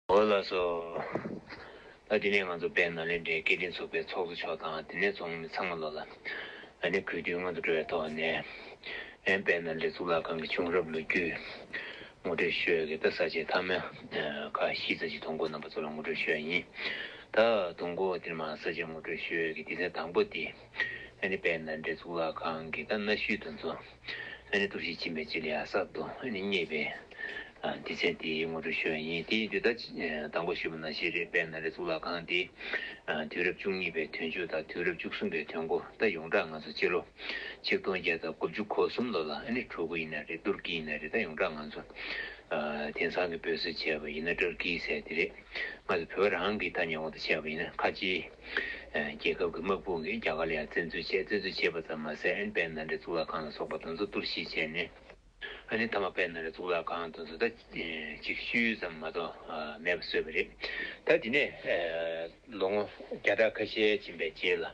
འོ་ལགས་སོ། ད་དེ་ནས་ང་ཚོ་དཔལ་ནཱ་ལེནྡྲའི་སྐད་འཕྲིན་ཚོགས་པའི་ཚོགས་གཙོ་མཆོག་དང་དེ་ནས་ཚོགས་མི་ཚང་མ་ལོ་ལ་ཨ་ནེ་གུས་འདུད་སྔོན་དུ་འགྲོ་བའི་ཐོག་ནས། ཨན་དཔལ་ནཱ་ལེནྡྲའི་གཙུག་ལག་ཁང་གི་བྱུང་རབས་ལོ་རྒྱུས་ངོ་སྤྲོད་ཤོད་གི་ད་ས་བཅད་ཐ་མལ་ཁ་ཤི་ཚ་ཆི་དུང་གོ་རྣམ་པ་ཚོ་ལ་ངོ་སྤྲོད་ཤོད་ཡིན་ད་དུང་གོ་དེར་མ་ས་བཅད་ངོ་སྤྲོད་ཤོད་གི་དེ་ཚན་དང་པོ་དེ། ཨ་ནི་དཔལ་ནཱ་ལེནྡྲའི་གཙུག་ལག་ཁང་གི་ཁ་སྣ་ཤུལ་དུ་འཛུགས། ཨ་ནི་གཏུར་བྱེད་བྱིན་པའི་སྤྱི་ལེ་ཨ་སབ་ཏུ་ཨ་ནི་བསྙེས་པས། འདི་ཚེ་འདིའི་དངོས་གྲུབ་ཤོས་ཡིན་ཏེ་དུས་ད་ཅི་དང་པོ་ཞེས་པ་ན་ཤེས་རིག་དཔལ་ནཱ་ལེནྡྲའི་གཙུག་ལག་ཁང་འདི། དུས་རབས་བཅུ་གཉིས་པའི་དུས་མཇུག་དང་དུས་རབས་བཅུ་གསུམ་པའི་དུས་མགོ་ད་ཡོངས་གྲགས་ང་ཚོ་སྤྱི་ལོ་ཆིག་སྟོང་བརྒྱད་དང་དགུ་བཅུ་གོ་གསུམ་ལོ་ལ་ཨ་ནི་གྲུ་གུ་ཡིན་ན་རེད་ཏུར་ཀི་ཡིན་ན་རེད་ད་ཡོངས་གྲགས་ང་ཚོ་དེང་སང་གི་བོད་ཟེར་བྱས་པ་ཡིན་ན་ཏྲར་ཀིའི་ཟེར་དེ་རེད། སྔར་དུ་བོད་རང་གི་ཐ་སྙད་འོག་ཏུ་བྱས་པ་ཡིན་ན་ཁ་ཆེའི། རྒྱལ་ཁབ་ཀྱི་དམག་དཔུང་གིས་རྒྱ་གར་ལ་ཡང་བཙན་འཛུལ་བྱས། བཙན་འཛུལ་བྱས་པ་ཙམ་མ་ཟད་ཨན་པད་ནཱ་རའི་གཙུག་ལག་ཁང་ལ་སོགས་པ་དང་ཚོགས་གཏོར་བཞི་བྱས་ནས། ཨ་ནི་ཐ་མ་པད་ནཱ་རའི་གཙུག་ལག་ཁང་དང་ཚོགས་ད་གཅིག་ཤུལ་ཙམ་མ་གཏོགས་མེད་པར་བཟོས་པ་རེད། ད་དེ་ནས་ལོ་ངོ་བརྒྱ་ཕྲག་ཁ་ཤས་ཕྱིན་པའི་རྗེས་ལ།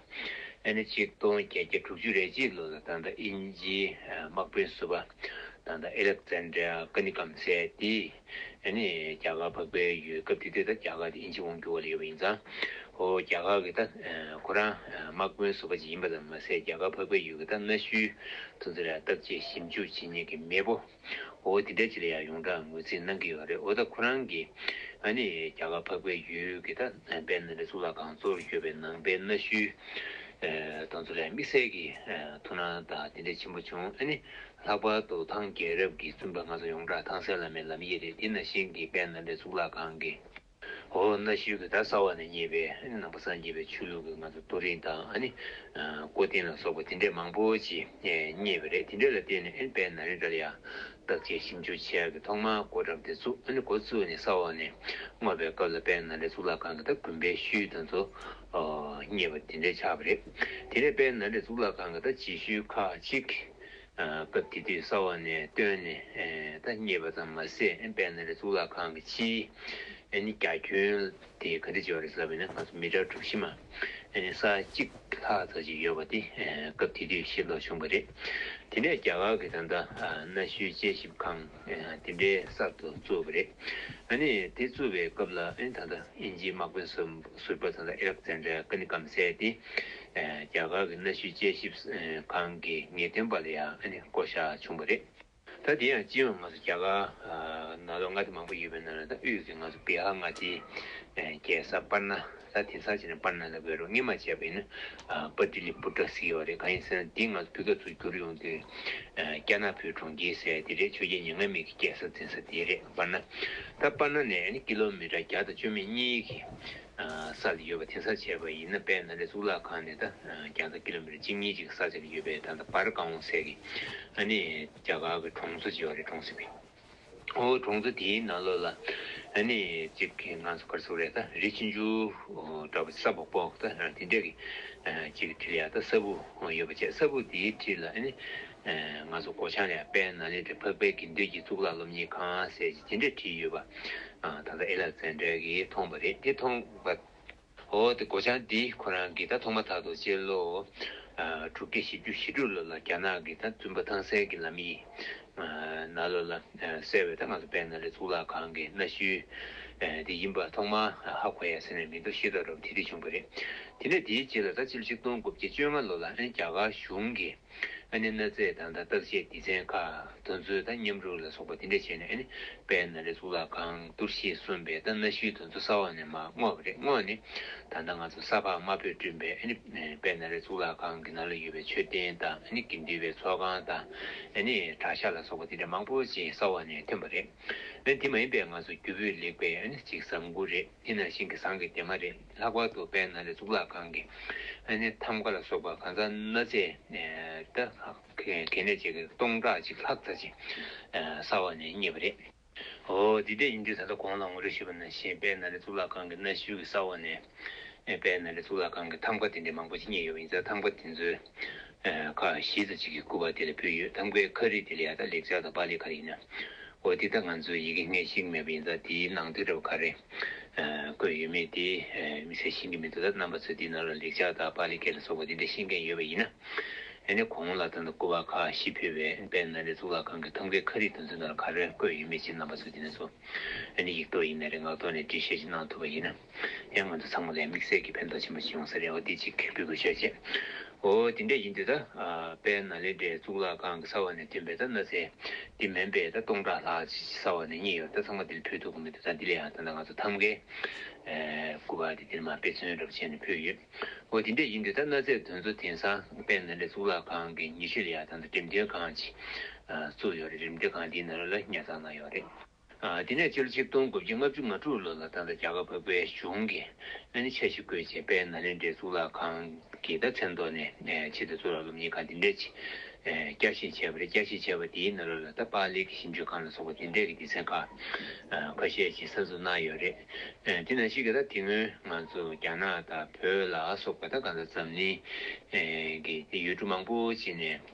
ཨ་ནི་ཆིག་སྟོང་བརྒྱད་བརྒྱ་དྲུག་ཅུ་རེ་གཅིག་ལོ་ལ་ད་ལྟ་ཨིན་ཇིའི་དམག་དཔོན་བསུ་བ། ད་ལྟ་ཨེ་ལེག་ཙན་དྲེ་ཨ་ཀ་ནི་ཀམ་སེ་ཏི། ཨ་ནི། རྒྱ་གར་འཕགས་པའི་ཡུལ་སྐབས་དེ་དུས་ད་རྒྱ་གར་དེ་དབྱིན་ཇི་དབང་འགྱུར་བ་ལ་ཡོད་པ་ཡིན་ཙང། ཧོ། རྒྱ་གར་གྱི་ད། ཁོ་རང། དམག་དཔོན་བཟོ་བ་ཅིག་ཡིན་པ་ཙམ་མ་ཟད་རྒྱ་གར་འཕགས་པའི་ཡུལ་གྱི་ད་གནའ་ཤུལ། ཐུང་ཙི་ར་བཏབ་རྗེས་ཞིབ་འཇུག་བྱེད་ཉེས་ཀྱི་མེས་པོ། ཧོ། དེ་འདྲ་ཅིག་ལ་ཡང་ཡོངས་གྲགས་ངོས་འཛིན་གནང་གི་ཡོད་རེད་འོ་ད་ཁོ་རང་གིས། ཨ་ནི། རྒྱ་གར་འཕགས་པའི་ཡུལ་གྱི་ད། བན་དྷ་རའི་གཙུག་ལག་ཁང་གཙོ་བོར་གྱུར་པའི་ནང་པའི་གནའ་ཤུལ། ཐུང་ཙི་རའི་དམིགས་བསལ་གྱི། ཐུགས་སྣང་དང་དེ་འདྲ་ཆེན་པོ་བྱུང་ཨ་ནི། ལྷག་པར་དུ་ཐང་རྒྱལ་རབས་ཀྱི་བཙུན་པ་སྔ་སོར་ཡོངས་གྲགས་ཐང་སན་བླ་མའི་ལམ་ཡིག་རེད་དེ་ནང་བཞིན་གྱི་དཔལ་ནཱ་ལེནྡྲའི་གཙུག་ལག་ཁང་གི་འོག་གནའ་ཤུལ་གྱི་དར་ས་བ་ནས་རྙེད་པའི་ནང་པ་སངས་རྒྱས་པའི་ཆོས་ལུགས་ཀྱི་ང་ཚོ་རྡོ་རིང་དང་ཀོ་རྟིང་ལ་སོགས་པ་དེ་འདྲས་མང་པོ་ཅིག་རྙེད་པ་རེད་དེ་འདྲས་ལ་བརྟེན་ནས་དཔལ་ནཱ་ལེནྡྲ་ལ་ཡང་བརྟག་དཔྱད་ཞིབ་འཇུག་བྱས་ཀྱི་ཐོག་མར་གོ་ཁྲབ་དེ་བཙུགས་གོ་བཙུགས་ནས་ས་འོག་ནས་བརྔོས་པའི་སྐབས་ལ་དཔལ་ནཱ་ལེནྡྲའི་གཙུག་ལག་ཁང་གི་དར་དགོན་པའི་ཤུལ་དང་ཚོ་རྙེད་པ་དེ་འདྲས་ཆགས་པ་རེད་དེ་ནས་དཔལ་ནཱ་ལེནྡྲའི་གཙུག་ལག་ཁང་གི་དར་སྤྱི་ཤུལ་ཁག་གཅིག་སྐབས་དེ་དུས་གསར་བ་ནས་བཏོན་ནས་ད་རྙེད་པ་ཙམ་མ་ཟད་དཔལ་ནཱ་ལེནྡྲའི་གཙུག་ལག་ཁང་གི་སྤྱིའི་ནི་རྒྱ་ཁྱོན་དེ་ག་འདྲས་བྱས་པ་རེད་ཟེར་བ་ནི་ང་ཚོ་མི་གྲངས་གྲུབ་བཞི་མ་ས་གཅིག་ལྷག་ཙག་ཅིག་ཡོད་པ་དེ་སྐབས་དེ་དུས་ཤེས་རྟོགས་བྱུང་བ་རེད། དེ་ནས་རྒྱ་གར་གྱི་ད་ལྟ་གནའ་ཤུལ་དཔྱད་ཞིབ་ཁང་དེ་འདྲའི་གསར་དུ་བཙུགས་པ་རེད། དེ་བཙུགས་པའི་སྐབས་ལ་ད་ལྟ་དབྱིན་ཇིའི་དམག་དཔོན་ཟུར། སུར་པ་དང་ཨེ་རག་ཙན་དྲེ་ཀ་ནི་ཀམ་སའེ་ཏི། རྒྱ་གར་གྱི་གནའ་ཤུལ་དཔྱད་ཞིབ་ཁང་གི་ངེས་སྟོན་པ་ལ་ཡང་བསྐོ་བཞག་བྱུང་བ་རེད། ད་དེ་ཡང་སྤྱིར་ང་ཚོ་རྒྱ་གར་ནང་ལོ་ལྔ་སྟེ་མང་པོ་ཡོད་པའི་ནང་ལ་ད་དབུས་ཀྱི་ང་ཚོ་བི་ཧར་མངའ་སྡེའི་རྒྱལ་ས་པར་ན། ད་དེང་སང་བྱས་ནས་པར་ན་ལ་བའི་རུ་སྔས་མ་བྱས་པ་ཡིན་ན་པར་ཏི་ལི་པུར་ཏྲ་ཟེར་ཡོད་རེད་གང་ཡིན་ཟེར་ན་དེ་ང་ཚོ་བོད་སྐད་ཚུར་བསྒྱུར་ཡོང་དུས་ཀྱ་ནག་བོད་གྲོང་ཁྱེར་ཟེར་དེ་རེད་ཆོས་རྒྱལ་ཉེ་ངན་མེད་ཀྱི་སྐྱེས་ས་འཛིན་ས་དེ་རེད། བར་ན། ད་པར་ན་ནས་ཀི་ལོ་མི་ཀྲ་བརྒྱ་དང་བཅུ་མེད་གཉིས་ཀྱི་ས་ལ་ཡོད་པ་དེ་སར་བྱས་པ་ཡིན་ན་དཔལ་ནཱ་ལེནྡྲའི་གཙུག་ལག་ཁང་ནི་ད་རྒྱང་ཐག་ཀི་ལོ་མི་ཀྲ་གཅིག་གཉིས་གཅིག་གི་ས་ཆ་ལ་ཡོད་པས་ད་ད་པར་ཀང་བོང་སད་ཀི་ཨ་ནི་རྒྱ་གར་གི་གྲོང་ཚོ་ཅིག་བ་རེད་གྲོང་སི་བི་ཨོ་གྲོང་ཚོ་དེའི་ནང་ལོགས་ལ་ཨ་ནི་ཅིག་གི་ང་ཚོ་ཀར་ཚུགས་རེད་ད་རི་ཆུ་འཇུ་འདྲ་བ་ས་བོག་བོག་ད་དེ་འདྲ་གི་ཅིག་གི་དྲི་ལ་ཡ་ད་ས་བུ་ཡོད་པ་བྱས་ས་བུ་དེའི་དྲི་ལ་ཨ་ནི་ང་ཚོ་སྒོ་བྱང་ལས་དཔལ་ནཱ་ལེནྡྲའི་འཕགས་པའི་དགེ་འདུན་གྱི་གཙུག་ལག་སློབ་གཉེར་ཁང་ཟེར་གྱི་དེ་འདྲ་བྲིས་ཡོད་པ་ད་ལྟ་ཨེ་ལ་ཙན་དྲལ་གྱིས་མཐོང་བ་རེད་དེ་མཐོང་བ་འོ་དེ་སྒོ་བྱང་འདི་ཁོ་རང་གིས་ད་མཐོང་མ་ཐག་ཏུ་སྤྱི་ལོ་དྲུག་བརྒྱ་བཞི་བཅུ་ཞེ་དྲུག་ལོ་ལ་རྒྱ་ནག་གི་ད་བཙུན་པ་ཐང་སན་གྱི་ལམ་ཡིག་ནཱ་ལོ་ལ་གསལ་བའི་ད་ང་ཚོ་དཔལ་ནཱ་ལེནྡྲའི་གཙུག་ལག་ཁང་གི་གནའ་ཤུལ་དེ་ཡིན་པ་ཐོག་མར་ཧ་གོ་ཡ་ཟེར་ནས་མིང་ཐོ་ཤེས་ཐོག་རབ་དེ་འདི་བྱུང་བ་རེད་དེ་འདྲ་དེའི་རྗེས་ལ་ད་སྤྱི་ལོ་ཆིག་སྟོང་དགུ་བརྒྱ་བཅོ་ལྔ་ལོ་ལ་རྒྱ་གར་གཞུང་གིས། ཨ་ནི་གནོད་འཚེ་དང་དང་བརྟག་དཔྱད་སྡེ་ཚན་ཁག་དོན་འཚོལ་དང་མཉམ་རུབ་ལ་སོགས་པ་དེ་འདྲ་བྱས་ནས་ཨ་ནི་པའི་ན་རེ་གཙུག་ལག་ཁང་གཏོར་ཤིས་གསུམ་པའི་ད་གནའ་ཤུལ་དོན་འཚོལ་ས་འོག་ནས་མ་བསྔོགས་པ་རེད་བསྔོགས་ནི་ད་ལྟ་ང་ཚོ་ས་ཕག་དམར་པོས་བསྐྲུན་པའི་ཨ་ནི་པའི་ན་རེ་གཙུག་ལག་ཁང་གི་ནང་ལ་ཡོད་པའི་མཆོད་རྟེན་དང་ཨ་ནི་དགེ་འདུན་པའི་ཚོགས་ཁང་དང་ཨ་ནི་བྲག་ཤ་ལ་སོགས་པ་དེ་འདྲ་མང་པོ་ཅིག་ས་འོག་ནས་ཐོན་པ་རེད་ཨ་ནི་དེ་མ་ཡིན་པའི་ང་ཚོ་རྒྱུ་སྤུས་ལེགས་པའི་ཨ་ནི་ཅིག་བཟང་དགུ་རེད་ཨི་ན་ཤིང་གི་ཟངས་ཀྱི་དེ་མ་རེད། ལྷག་པར་དུ་བན་ན་རི་གཙུག་ལག་ཁང་གི་ཨ་ནེ་ཐམ་ཀ་ལ་སོགས་པ་གང་ཟག་གནའ་རྫས་ད་གལ་གནད་ཅིག་གི་སྟོང་ཕྲག་གཅིག་ལྷག་ཚར་ཅིང་སྲ་བ་ནས་རྙེད་པ་རེད། འོ་འདི་ལྟས་ཡིན་དུས་ད་ལྟ་གོང་ལ་ངོ་སྤྲོད་ཞུས་པ་ན་ཞེས་བན་ན་རི་གཙུག་ལག་ཁང་གི་གནའ་ཤུལ་གྱི་སྲ་བ་ནས་བན་ན་རི་གཙུག་ལག་ཁང་གི་ཐམ་ཀ་དེ་འདྲའི་མང་པོ་ཅིག་རྙེད་ཡོད་པ་ཡིན་ཚེ་ཐམ་ཀ་དེ་ཚོའི་ཁ་བཞི་དང་གཅིག་གིས་བསྐུལ་བ་དེ་ལ་བུ་ཡོད་དམ་ཀའི་ཁ་རིས་དེ་ལ་ཡ་ད་ལེགས་ཆགས་དང་པཱ་ལིའི་ཁ་རིས་ཡིན་ན། འོ་དེ་ད་ང་ཚོས་ཡི་གེ་སྔས་ཤིག་མེད་པ་ཡིན་ཙང་དེའི་ནང་དུ་རེ་བ་ཁ་རེ། བཀོད་ཡོད་མེད་དེ་མི་ཚད་ཤེས་ཀྱི་མི་འདུག་ད་རྣམ་པ་ཚོས་དེའི་ནང་ལ་ལེགས་ཆགས་དང་པཱ་ལི་ཀའི་ལ་སོགས་པ་དེ་འདྲ་ཤེས་མཁན་ཡོད་པ་ཡིན་ན། ནི་གོང་ལ་ད་ལྟ་བསྐུལ་བ་ཁ་བཞི་ཕུལ་བས་དཔལ་ནཱ་ལེནྡྲའི་གཙུག་ལག་ཁང་གི་ཐམ་ཀའི་ཁ་རིས་དེ་ཚོའི་ནང་ལ་ཁ་རེ་བཀོད་ཡོད་མེད་ཅེས་རྣམ་པ་ཚོས་དེ་ནས་བཟུང། ནི་ཡིག་ཐོག་ཡིན་ན་རེ་ངག་ཐོག་ནས་འབྲི་བཤད་ཅིག་གནང་ཐུབ་པ་ཡིན་ན། ཡང་ང་ཚོ་ཚང་མ་ལས་དམིགས་བསལ་གྱི་ཕན་ཐོགས་ཆེན་པོ་ཞིག་ཡོང་ས་རེད་འོ་དེ་ཅིག་འབུལ་དགོས་ཤོག་ཅེས། འོ་དེ་འདྲ་ཡིན་དུས་ད་དཔལ་ན་ལེནྡྲའི་གཙུག་ལག་ཁང་གི་ས་བོན་ནས་ཐོན་པའི་ད་ན་ཟས་འདི་མེན་པས་ད་སྟོང་ཕྲག་ལྷག་ཅིག་ཅིག་ས་བོན་ནས་རྙེད་ཡོད་རེད་ད་ཚང་མ་དེ་ལ་ཕུལ་ཐུབ་ཀྱི་མི་འདུག་ད་འདི་ལ་ཡང་ད་ནང་ང་ཚོ་ཐམ་གའི་སྐུ་པར་དེ་འདིར་མ་དཔེ་མཚོན་རབས་བྱས་ནས་ཕུལ་ཡོད། འོ་དེ་འདྲ་ཡིན་དུས་ད་ན་ཟས་དེ་ཚོ་དེང་སང་དཔལ་ན་ལེནྡྲའི་གཙུག་ལག་ཁང་གི་ཉི་ཤུ་ལ་ཡང་ད་ད་འགྲེམས་སྟོན་ཁང་ཅིག་བཙུགས་ཡོད་རེད་འགྲེམས་སྟོན་ཁང་དེའི་ནང་རོལ་ལ་ཉར་ཚགས་གནང་ཡོད་རེད། དེ་ནས་སྤྱི་ལོ་ཆིག་སྟོང་དགུ་བརྒྱ་ལྔ་བཅུ་ང་དྲུག་ལོ་ལ་ད་ལྟ་རྒྱ་གར་བོད་པའི་གཞུང་གིས་སྨན་ནི་ཆ་ཞིག་དགོས་ཅེས་པས་ན་ལེན་འབྲས་གཙུག་ལག་ཁང་གི་ཟླ་མཚན་ཐོག་ནས་ཕྱི་ཟླ་གཙུག་ལག་སློབ་གཉེར་ཁང་འདི་འདྲས་ཀྱིས་བསྐྱར་བཞེངས་བྱས་པ་རེད་བསྐྱར་བཞེངས་བྱས་པ་དེའི་ནང་ལོ་ལ་ད་པཱ་ལི་གི་ཞིབ་འཇུག་ཁང་ལ་སོགས་པ་དེ་འདྲས་ཀྱི་སྡེ་ཚན་ཁ་ཁ་ཤས་ཀྱིས་གསར་འཛུགས་གནང་ཡོད་རེད། དེ་ནང་ཞིག་གིས་ད་དེ་སྔོན་ང་ཚོ་རྒྱ་ནག་དང་བོད་ལ་སོགས་པ་ད་ག་ད་འཛམ་གླིང་གི་ཡུལ་གྲུ་མང་པོ་ཅིག་ནས།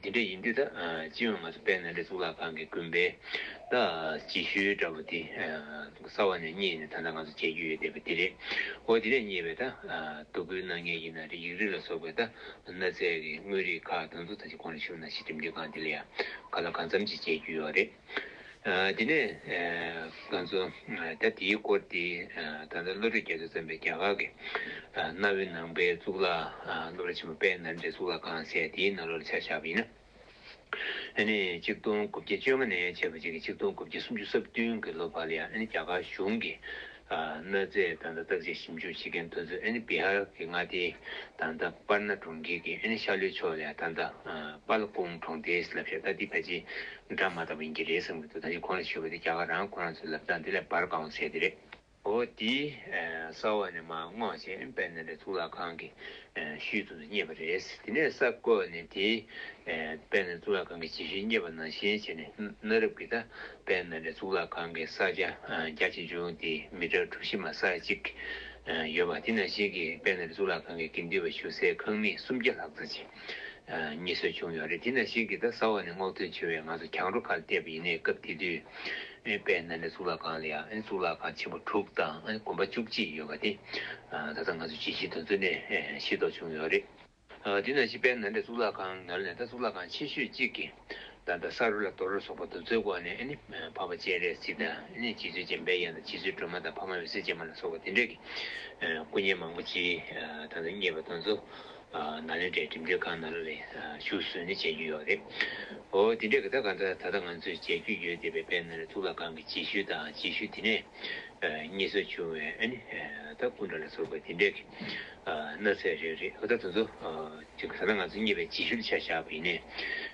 འདི་འདྲ་ཡིན་དུས་ད་ཅིའི་འོས་ང་ཚོ་དཔལ་ནཱ་ལེནྡྲའི་གཙུག་ལག་ཁང་གི་དགོན་པའི་ད་ཅི་ཤོའི་འདྲ་པོ་དེ་རྩ་བ་ནས་རྙེད་ནས་ད་ལྟ་ང་ཚོ་མཇལ་རྒྱུ་ཡོད་བསྡད་པ་འདི་རེད་འོ་དེ་འདྲས་རྙེད་པའི་ད་དོ་སྐུལ་གནང་མཁན་ཡིན་ན་རེ་ཡིག་རིགས་ལ་སོགས་པའི་ད་ནཱ་ཚའི་གི་དངོས་རིགས་ཁག་ད་ཚོ་ད་ཅི་གོང་ལ་ཞུགས་ན་ཞེ་འགྲིམ་འགྲིམ་གང་དེ་ལ་ཡང་ག་ལ་གང་འཚམ་ཅིག་མཇལ་རྒྱུ་ཡོད་རེད། དེ་ནས་ང་ཚོ་ད་དེའི་སྐོར་དེ་ད་ལྟ་བློ་གྲོས་རྒྱ་མཚོས་བརྩམས་པའི་རྒྱ་གར་གྱི་གནའ་བོའི་ནང་པའི་གཙུག་ལག་སློབ་ར་ཆེན་མོ་དཔལ་ནཱ་ལེནྡྲའི་གཙུག་ལག་ཁང་ཟེར་དེའི་ནང་ལོ་ལ་ཆ་བཞག་པ་ཡིན། ཨ་ནི་གཅིག་སྟོང་དགུ་བརྒྱ་བཅོ་ལྔ་ནས་བྱས་པ་བཅས་ཀྱི་གཅིག་སྟོང་དགུ་བརྒྱ་སུམ་ཅུ་རྩ་བདུན་གྱི་ལོ་བར་ལ་ཡང་ཨ་ནི་རྒྱ་གར་གཞུང་གི་གནོད་འཚེ་དང་དང་བརྟག་དཔྱད་ཞིབ་འཇུག་བྱེད་མཁན་དུད་ཚོད་ཨན་བྷི་ཧར་གྱི་མངའ་སྡེའི་དང་དང་པར་ན་གྲོང་ཁྱེར་གྱི་ཨན་ཤ་ལུའི་ཕྱོགས་ལས་དང་དང་པར་ལ་ཀུང་གྲོང་སྡེའི་ལབ་ཤ་ལྟ་འདི་ཕལ་ཆེར་འདྲ་མ་ད་པོ་ཡིན་གྱི་རེད་བསམ་གྱི་འདུག་ད་ནི་ཁོང་ལ་ཞུས་པ་དེ་རྒྱ་གར་རང་ཁོ་རང་ཚོའི་ལབ་ཙང་འདི་ལས་བར་གང་བ་ཟེར་དེ་རེད། འོ་དེ་ས་འོག་ནས་མ་བསྔོག་བྱས་ཨན་དཔལ་ནཱ་ལེནྡྲའི་གཙུག་ལག་ཁང་གི་ཤུལ་དུ་རྙེད་པ་རེད། དེ་ནས་ས་བརྐོས་ནས་དེ་དཔལ་ནཱ་ལེནྡྲའི་གཙུག་ལག་ཁང་གི་རྗེས་ཤུལ་རྙེད་པ་ནང་བཞིན་བྱས་ནས་གནའ་རབས་ཀྱི་ད་དཔལ་ནཱ་ལེནྡྲའི་གཙུག་ལག་ཁང་གི་ས་ཆ་བརྒྱ་ཆེ་ཆུང་སྟེ་མི་ཀྲ་གྲུ་བཞི་མ་ས་གཅིག་ཡོད་པ་དེ་ན་གཞིས་ཀྱི་དཔལ་ནཱ་ལེནྡྲའི་གཙུག་ལག་ཁང་གི་དགེ་འདུན་པ་ཞུ་སའི་ཁང་མིག་སུམ་བརྒྱ་ལྷག་ཙམ་ཞིག་རྙེད་སྲོལ་བྱུང་ཡོད་རེད་དེ་ན་གཞིས་ཀྱི་ད་ས་འོག་ནས་སྔོག་འདོན་བྱེད་པའི་ང་ཚོ་གྱང་རོ་ཁ་ལ་བལྟས་པ་ཡིན་ནའི་སྐབས་དེ་དུས་དཔལ་ནཱ་ལེནྡྲའི་གཙུག་ལག་ཁང་ལ་ཡང་གཙུག་ལག་ཁང་ཆེན་པོ་དྲུག་དང་དགོན་པ་བཅུ་གཅིག་ཡོད་པ་དེ་ད་ལྟ་ང་ཚོ་གྱིས་གཞིས་དོན་གཙོ་གནད་ཤེས་རྟོགས་བྱུང་ཡོད་རེད། དེ་ནང་བཞིན་པའི་ནཱ་ལེནྡྲ་གཙུག་ལག་ཁང་ནཱ་ལེནྡྲ་གཙུག་ལག་ཁང་ཆེ་ཤོས་གཅིག་གི་བདག་དང་ས་རུ་ལ་དོར་ལ་སོགས་པ་གདུགས་ཚོད་བསྐོར་ནས་འཕགས་པ་སྤྱན་རས་གཟིགས་དང་རྗེ་བཙུན་འཇམ་དཔལ་དབྱངས་དང་རྗེ་བཙུན་སྒྲོལ་མ་དང་འཕགས་མ་འོད་ཟེར་སྤྱན་མ་ལ་སོགས་པ་དེ་འདྲ་གི་སྐུ་བརྙན་མང་པོ་སྤྱིའི་དང་དུ་བསྙེས་པ་དང་གཙུག་ནཱ་ལེནྡྲའི་འགྲིམ་འགྲུལ་ཁང་ནཱ་ལ་ལའི་བཞུགས་གསོལ་ནི་མཇལ་རྒྱུ་ཡོད་རེད། འོ་དེ་འདྲའི་གི་ད་ག་འདྲ་ད་ལྟ་ང་ཚོས་མཇལ་རྒྱུ་ཡོད་བསྡད་པའི་དཔལ་ནཱ་ལེནྡྲ་གཙུག་ལག་ཁང་གི་རྗེས་ཤུལ་དང་རྗེས་ཤུལ་དེ་ནས། གཉིས་སུ་བྱུང་བས་ད་སྐུ་འདྲ་ལ་སོགས་པའི་དེ་འདྲའི་གནའ་ཚད་རེ་རེ་ད་དུ་ཚོ་ཅིག་ད་ང་ཚོ་གཉིས་པའི་སྤྱི་ཞུལ་ཆ་བཞག་པ་ཡིན་ནས་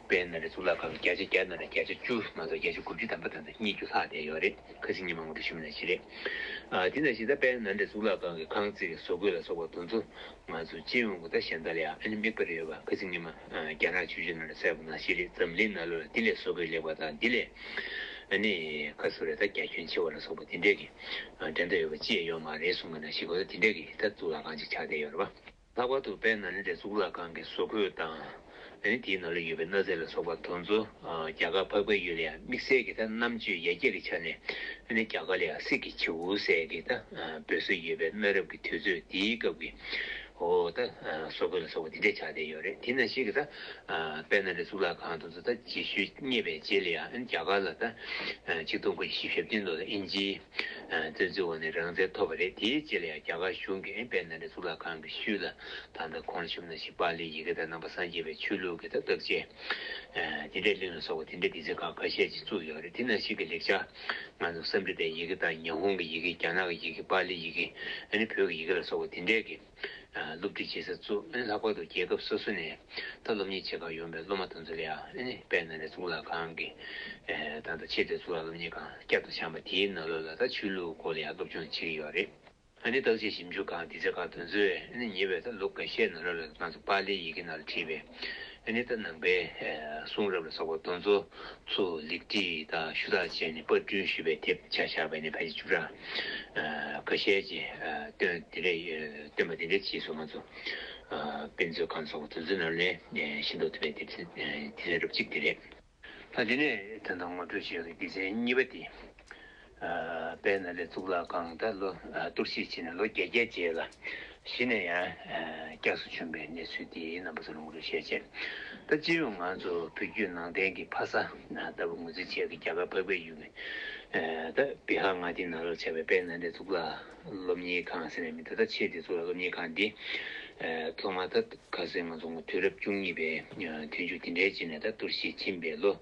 པའི་ན་རེ་གཙུག་ལག་ཁང་བརྒྱ་ཆ་བརྒྱ་ན་རེ་བརྒྱ་ཆ་བཅུ་ང་ཚོ་བརྒྱ་ཆ་དགུ་བཅུ་དམ་པ་དང་ཚོ་གཉིས་བཅུ་ལྷག་བསྡད་ཡོད་རེད་ཁ་ཟིག་གཉིས་མ་ངོ་དྲུག་ཞུ་མེད་ན་བཞི་རེད་དེ་ན་བཞི་ད་པའི་ན་རེ་གཙུག་ལག་ཁང་གི་ཁང་བརྩེགས་བཟོ་བཀོད་ལ་སོགས་པ་དུ་ཚོ་ང་ཚོ་སྤྱི་ཡོངས་ཀྱི་ད་གཞན་དག་ལ་ཡང་དམིགས་པ་རེ་ཡོད་པ་ཁ་ཟིག་གཉིས་མ། རྒྱ་ནག་ཆོས་བརྒྱུད་ནང་ལ་གསལ་པོ་ན་ཤེས་རིག་འཛམ་གླིང་ན་ལོ་ལ་དེ་ལས་བཟོ་དགོས་ལེགས་པ་དང་དེ་ལས་ནི་ཁ་སུ་རེ་ད་རྒྱ་ཁྱོན་ཆེ་བ་ལ་སོགས་པ་དེ་འདྲས་ཀྱི་འགྲན་ཟླ་ཡོད་པ་ཅི་ཡང་ཡོད་མ་རེད་གསུངས་པ་ན་ཤེས་དགོས་ད་དེ་འདྲས་ཀྱི་ད་གཙུག་ལག་ཁང་ཅིག་ཆགས་བསྡད་ཡོད་རེད་པ། ལྷག་པར་དུ་དཔལ་ནཱ་ལེནྡྲའི་གཙུག་ལག་ཁང་གི་བཟོ་བཀོད་དང་ནི་དེའི་ནང་ལ་ཡོད་པའི་གནའ་རྫས་ལ་སོགས་པ་དོན་གཙོ་རྒྱ་གར་འཕགས་པའི་ཡུལ་ལ་ཡང་དམིགས་བསལ་གྱི་ད་རྣམ་དཔྱོད་ཡར་རྒྱས་ཀྱི་ཆ་ནས་ནི་རྒྱ་གར་ལ་ཡང་སྲིད་ཀྱི་བྱེའུ་གསལ་གྱི་ད་འབོད་སྲོལ་ཡོད་པའི་གནའ་རབས་ཀྱི་དུས་ཚོད་དེའི་སྐབས་ཀྱི་ཨོ་ད། སོ་གོལ་ལ་སོགས་པ་འདི་འདྲའི་ཆ་དེ་ཡོད་རེད་དེ་ན་ཞིག་གི་ད། དཔལ་ནཱ་ལེནྡྲའི་གཙུག་ལག་ཁང་དུ་ད་རྗེས་ཤུལ་རྙེད་པའི་རྗེས་ལ་ཡང་རྒྱ་གར་ལ་ད། ཆིག་སྟོང་དགུ་བརྒྱ་བཞི་བཞི་བརྒྱ་བདུན་དུ་ད་དབྱིན་ཇིའི། བཙན་འཛུལ་འོག་ནས་རང་བཙན་ཐོབ་པ་རེད་དེའི་རྗེས་ལ་ཡང་རྒྱ་གར་གཞུང་གིས་དཔལ་ནཱ་ལེནྡྲའི་གཙུག་ལག་ཁང་གི་ཤུལ་ལ་ད་ད་གོང་ལ་ཞུགས་ན་ཞིག་པཱ་ལིའི་ཡི་གེ་ད་ནང་པ་སངས་རྒྱས་པའི་ཆོས་ལུགས་ཀྱི་ད་བརྟག་དཔྱད། དེ་འདྲའི་གླིང་ལ་སོགས་པ་དེ་འདྲའི་དུས་ཚོད་ཁག་ཁ་ཤས་ཀྱིས་བཙུགས་ཡོད་རེད་དེ་ནང་ཞིག་གི་ལེགས་ཆ། ང་ཚོ་གསར་འབྲི་དེ་ཡི་གེ་དང་ཉི་ཧོང་གི་ཡི་གེ་རྒྱ་ནག་གི་ཡི་གེ་པཱ་ལི་ཡི་གེ་ཨ་ནི་བོད་ཀྱི་ཡི་གེ་ལ་སོགས་པ་དེ་འདྲའི་གི་སློབ་ཁྲིད་བྱེད་ས་བཙུགས་ཨ་ནི་ལྷག་པར་དུ་རྒྱལ་ཁབ་སོ་སོ་ནས་ད་སློབ་གཉེར་བྱེད་ཁག་ཡོང་པའི་སློབ་མ་དང་ཚོ་ལ་ཨ་ནི་དཔལ་ནཱ་ལེནྡྲ་གཙུག་ལག་ཁང་གི་ཐང་དུ་ཆེད་དུ་གཙུག་ལག་སློབ་གཉེར་ཁང་བསྐྱར་དུ་བཤམས་པ་དེའི་ནང་ལོ་ལ་ད་ཆོས་ལུགས་སྐོར་ལ་ཡང་སློབ་སྦྱོང་བྱེད་ཀྱི་ཡོད་རེད། ཨ་ནི་བརྟག་དཔྱད་ཞིབ་འཇུག་ཁང་དེ་ཆ་ཁ་དོན་གཙོས་ཨ་ནི་ཉེ་བའི་ད་ལོ་འགའ་ཤས་ནང་རབ་ལ་ཁང་ཚུ་པཱ་ལིའི་ཡི་གེ་ནང་ལ་བྲིས་པའི་ཨ་ནི་ད་ནང་པའི་གསུང་རབ་ལ་སོགས་པ་དོན་གཙོ་ཚུ་ལེགས་བྲིས་དང་ཞུ་དག་བྱས་ནས་པར་སྐྲུན་ཞུས་པའི་དེབ་ཆ་ཞག་པའི་ནས་ཕལ་ཆེར་བཅུ་ཕྲག་འགའ་ཤས་ཀྱི་སྟོན་དེ་འདྲས་སྟོན་པ་དེ་འདྲས་བྱས་སོ་ང་ཚོ་དཔེ་མཛོད་ཁང་སོགས་པ་དོན་གཙོའི་ནང་ལས་ཤེས་མདོག་ཐུབ་པའི་དེབ་ཆ་དེ་ལས་རབ་གཅིག་དེ་རེད། ད་དེ་ནས་དོན་དམ་ངོ་སྤྲོད་བྱས་པའི་སྡེ་ཚན་གཉིས་པ་དེ། དཔལ་ནཱ་ལེནྡྲ་གཙུག་ལག་ཁང་དུ་ལོ་གཏོར་བཤིག་བྱས་ནས་ལོ་བརྒྱད་བརྒྱད་རྗེས་ལ་གཞི་ནས་ཡང་བསྐྱར་སུ་བྱོན་པའི་གནས་ཚུལ་དེའི་རྣམ་པ་ཚུར་ངོ་སྤྲོད་བྱས་རྗེས། ད་སྤྱི་ཡོངས་ང་ཚོ་བོད་བརྒྱུད་ནང་བསྟན་གྱི་ཕ་ས་ལྟ་བུ་ངོས་འཛིན་བྱས་ཏེ་རྒྱ་གར་འཕགས་པའི་ཡུལ་གྱི་བྷི་ཧཱར་མངའ་སྡེའི་ནང་ལོགས་ཆགས་པའི་དཔལ་ནཱ་ལེནྡྲ་གཙུག་ལག་སློབ་གཉེར་ཁང་ཟེར་བའི་མི་ད་ལྟ་ཆེ་དེ་ཚོ་ལ་སློབ་གཉེར་ཁང་དེ་ཐོག་མར་ད་ག་ཟེར་ང་ཚོ་དུས་རབས་བཅུ་གཉིས་པའི་དུས་མཇུག་དེ་འདྲའི་རྗེས་ནས་ད་གཏོར་བཤིག་ཕྱིན་པའི་ལོ་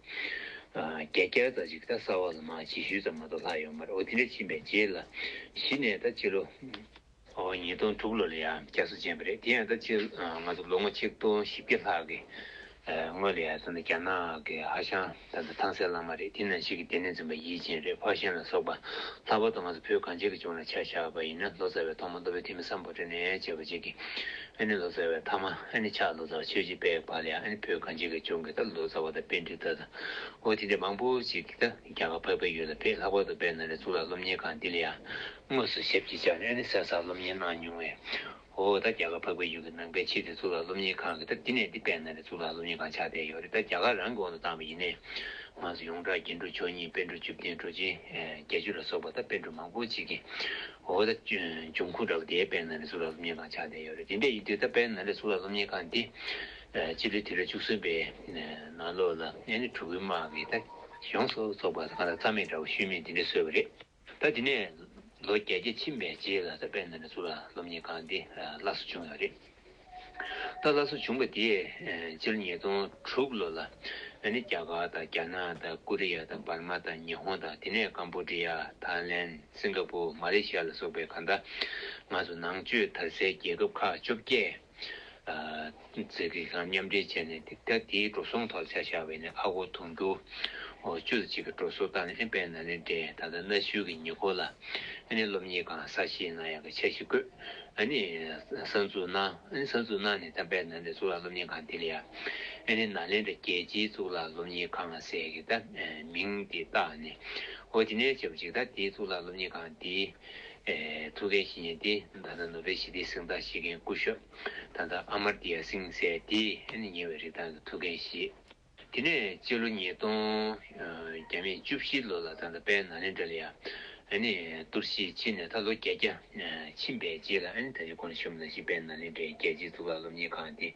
བརྒྱ་སྐྱར་རྩ་གཅིག་ད་གསར་བ་ལ་མ་ཕྱི་ཤུལ་ཙམ་མ་གཏོགས་ལྷག་ཡོད་མ་རེད་འོ་དེ་འདྲ་ཕྱིན་པའི་རྗེས་ལ་གཞི་ནས་ད་སྤྱི་ལོ་ཉིས་སྟོང་དྲུག་ལོ་ལ་ཡང་བསྐྱར་གསོ་བྱས་པ་རེད་དེ་ཡང་ད་སྤྱི་ང་ཚོ་ལོ་ངོ་ཆིག་སྟོང་བཞི་བརྒྱ་ལྷག་གི་དངོས་ལ་ཡ་མཚན་ནི་རྒྱ་ནག་གི་ཧྭ་ཤང་ད་ལྟ་ཐང་སེ་བླ་མ་རེད་དེ་ནང་ཆེ་གི་ལྟེ་གནས་འཛིན་པ་ཡིད་ཅན་རེད་ཕག་ཤན་ལ་སོགས་པ་ལྷག་པར་དུ་ང་ཚོ་བོད་གངས་ཅན་གྱི་ལྗོངས་ལ་ཆ་བཞག་པ་ཡིན་ན་ལོ་ཙཱ་བའི་ཐོག་མ་མདོ་བོད་ཐི་མི་ས་འབོ་ཏྲེ་ནས་བྱས་པ་གཅིག་གི་ཨ་ནི་ལོ་ཙཱ་བའི་མཐའ་མ་ཨ་ནི་ཕྱག་ལོ་ཙཱ་བ་ཆོས་རྗེ་པད་པ་ལ་ཡང་ཨ་ནི་བོད་གངས་ཅན་གྱི་ལྗོངས་ཀྱི་ད་ལོ་ཙཱ་བ་དང་དཔེ་འབྲི་དག་དང་འོ་དེ་འདྲ་མང་པོ་ཅིག་གི་ད་རྒྱ་གར་འཕགས་པའི་ཡུལ་ལ་བེད་ལྷག་པར་དུ་བེད་ནང་ལས་གཙུག་ལག་སློབ་གཉེར་ཁང་འདི་ལ་ཡང་དངོས་སུ་ཞབས་ཀྱིས་བཅགས་ནས་ཨ་ནི་གསལ་བསགས་སློབ་གཉེར་གནང་མྱོང་བས་ཧོ། ད་རྒྱ་གར་འཕགས་པའི་ཡུལ་གྱི་ནང་པའི་ཕྱིར་དེ་ཚུར་ལ་སློབ་གཉེར་ཁང་གིས་ད་འདི་ནས་འདི་སྤེལ་ན་རེ་ཚུར་ལ་སློབ་གཉེར་ཁང་ཆགས་བསྡད་ཡོད་རེད་ད་རྒྱ་གར་རང་གི་དབང་དུ་བཏང་བ་ཡིན་ནའི། ང་ཚོ་ཡོངས་གྲགས་རྒྱན་དྲུག་མཆོག་གཉིས་དཔལ་འབྲུག་བཅུ་བརྒྱན་གྲོ་རྗེ། བརྒྱད་ཅུ་ལ་སོགས་པ་ད་དཔལ་འབྲུག་མང་པོ་ཅིག་གིས། ཧོ། ད་འབྱུང་ཁུངས་འདྲ་བོ་དེའི་སྤེལ་ན་རེ་ཚུར་ལ་སློབ་གཉེར་ཁང་ཆགས་བསྡད་ཡོད་རེད་དེ་འདྲ་ཡིན་དུས་ད་སྤེལ་ན་རེ་ཚུར་ལ་སློབ་གཉེར་ཁང་འདི། སྤྱི་ལོའི་དུས་རབས་བཅུ་གསུམ་པའི་ནང་ལོགས་ལ་ཨེ་ནི་གྲུ་གུའི་དམག་གིས་ད་གཞུང་སོགས་ཚོགས་པ་ད་གང་ལ་རྩ་མེད་འདྲ་བོ་ཤུལ་མེད་འདི་འདྲས་བཟོས་བ་རེད། ད་དེ་ནས་ལོ་བརྒྱད་བརྒྱ་ཕྱིན་པའི་རྗེས་ལ་ད་པད་ན་ནས་ཟུར་ལ་སློབ་གཉེར་ཁང་འདི་སླར་གསོ་བྱུང་བ་རེད། ད་སླར་གསོ་བྱུང་པ་དེས་སྤྱིར་ཉིས་སྟོང་དྲུག་ལོ་ལ་ང་ནི་རྒྱ་གར་དང་རྒྱ་ནག་དང་ཀོ་རི་ཡ་དང་འབར་མ་དང་ཉི་ཧོང་དང་དེ་ནས་ཀམ་པོ་ཏྲི་ཡ། ཐཱའི་ལན། སིང་ག་པུར། མ་ལེ་ཤི་ཡ་ལ་སོགས་པའི་གང་ཟླ་ང་ཚོ་ནང་ཆོས་དར་སའི་རྒྱལ་ཁབ་ཁག་བཅོ་བརྒྱད། རྩེ་གུས་ཁང་མཉམ་འབྲེལ་བྱས་ནས་དེབ་ཐེར་དེའི་འགྲོ་སོང་ཐོག་ཆ་བཞག་པའི་ནས་ཨ་ཁུ་དུང་རྒྱུ། བཅུ་ཚོ་གཅིག་གི་འགྲོ་སོང་བཏང་ནས་ཨན་པའི་ན་ནས་འདྲེས་ད་ལྟ་གནའ་ཤུལ་གྱི་ཉེ་འཁོར་ལ་ཨ་ནི་སློབ་གཉེར་ཁང་གསར་བཞེངས་གནང་ཡག་གི་ཆ་ཞིག་བཀོད་ཨ་ནི་གསར་འཛུགས་གནང་ཨ་ནི་གསར་འཛུགས་གནང་ནས་ད་པའི་ན་ནས་གཙུག་ལག་སློབ་གཉེར་ཁང་དེ་ལ་ཡ་ཨ་ནི་ན་ལེན་དྲ་རྒྱལ་སྤྱིའི་གཙུག་ལག་སློབ་གཉེར་ཁང་ཟེར་གི་ད་མིང་དེ་བཏགས་ནས་ཨོ་ཏི་ནའི་བྱས་པ་ཅིག་ད་དེའི་གཙུག་ལག་སློབ་གཉེར་ཁང་དེའི། ཐུགས་ཀའི་བཤེས་གཉེན་དེས་ད་ལྟ་ནུབ་པའི་ཞི་བདེའི་གཟེངས་རྟགས་བཞེས་མཁན་སྐུ་ཞབས་ད་ལྟ་ཨ་མར་ཏི་ཡ་སིང་སེ་དེས་ཉེ་བའི་རིག་གདངས་ཀྱི་ཐུགས་འགན་བཞེས། དེ་ནས་སྤྱི་ལོ་ཉིས་སྟོང་བརྒྱ་མེད་བཅུ་བཞི་ལོ་ལ་ད་ལྟ་པའི་ན་ལེན་དྲ་ལི་ཡ་ཏུར་གཞིས་ཆེན་ནས་ད་ལོ་བརྒྱད་བརྒྱ་ཕྱིན་པའི་རྗེས་ལ་ད་ལི་ཀོན་ཤོམ་ན་ཤི་པའི་ན་ལེན་དྲའི་རྒྱལ་སྤྱིའི་གཙུག་ལག་སློབ་གཉེར་ཁང་དེ་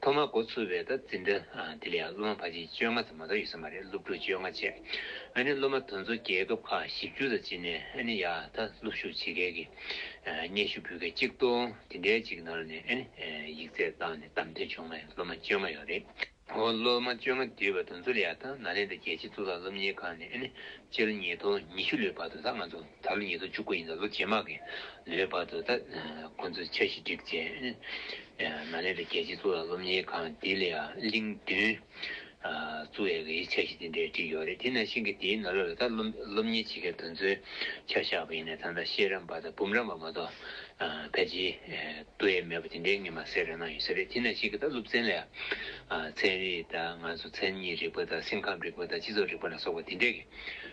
ཐོག་མར་འགོ་ཚུགས་པའི་བརྡ་འཛིན་འདི་དེ་ལས་སློབ་མ་ཕ་གཅིག་བཅོ་ལྔ་ཙམ་མ་གཏོགས་ཡོད་ས་མ་རེད་སློབ་ཕྲུག་བཅོ་ལྔ་བཅས་ཨ་ནི་སློབ་མ་དོན་གཙོ་རྒྱལ་ཁབ་ཁག་བཞི་བཅུ་ཙམ་བྱིན་ནས་ཨ་ནི་ཡ་ད་སློབ་ཞུགས་བྱེད་མཁན་གྱི་སྙན་ཞུ་འབུལ་མཁན་གཅིག་སྟོང་དེ་འདྲའི་གཅིག་ནང་ནས་ཨ་ནི་ཡིག་ཚད་བཏང་ནས་བདམས་ཐོན་བྱུང་བའི་སློབ་མ་བཅོ་ལྔ་ཡོད་རེད། ཧོ་སློབ་མ་བཅོ་ལྔ་བསྡུས་པ་དོན་གཙོ་ལ་ཡ་ད་ནཱ་ལེནྡྲ་རྒྱལ་སྤྱིའི་གཙུག་ལག་སློབ་གཉེར་ཁང་ནས་ཨ་ནི་སྤྱི་ལོ་ཉིས་སྟོང་ཉི་ཤུ་ལོའི་བར་དུ་ད་ང་ཚོ་ད་ལོ་ཉིས་སྟོང་བཅུ་དགུ་ཡིན་ན་ལོ་རྗེས་མ་གི་ལོའི་བར་དུ་ད་ཁོང་ཚོས་འཆར་གཞི་བསྒྲིགས་རྗེས། མ་ནེ་ལི་རྒྱལ་སྤྱིའི་གཙུག་ལག་སློབ་གཉེར་ཁང་དེ་ལས་གླིང་བདུན། གཙུག་ཡས་ཀྱི་འཆར་གཞི་དེ་འདྲས་བསྒྲིགས་ཡོད་རེད་དེ་ནང་བཞིན་གི་དེའི་ནང་ལོ་ལ་ད་སློབ་གཉེར་བྱེད་མཁན་དེ་ཚོའི་ཆ་བཞག་པ་ཡིན་ན་ད་ལྟ་ཤེས་རམས་པ་དང་འབུམ་རམས་པ་མ་གཏོགས་ཕལ་ཆེ་ཏུ་ཡས་མེད་པ་དེ་འདྲའི་ངེས་མ་སེ་ར་ན་ཡོད་ས་རེད་དེ་ནང་བཞིན་གི་ད་སློབ་ཚན་ལས་ཚན་རིག་དང་ང་ཚོ་མཚན་ཉིད་རིག་པ་དང་སེམས་ཁམས་རིག་པ་དང་སྤྱི་ཚོགས་རིག་པ་ལ་སོགས་པ་དེ་འདྲས་ཀྱི་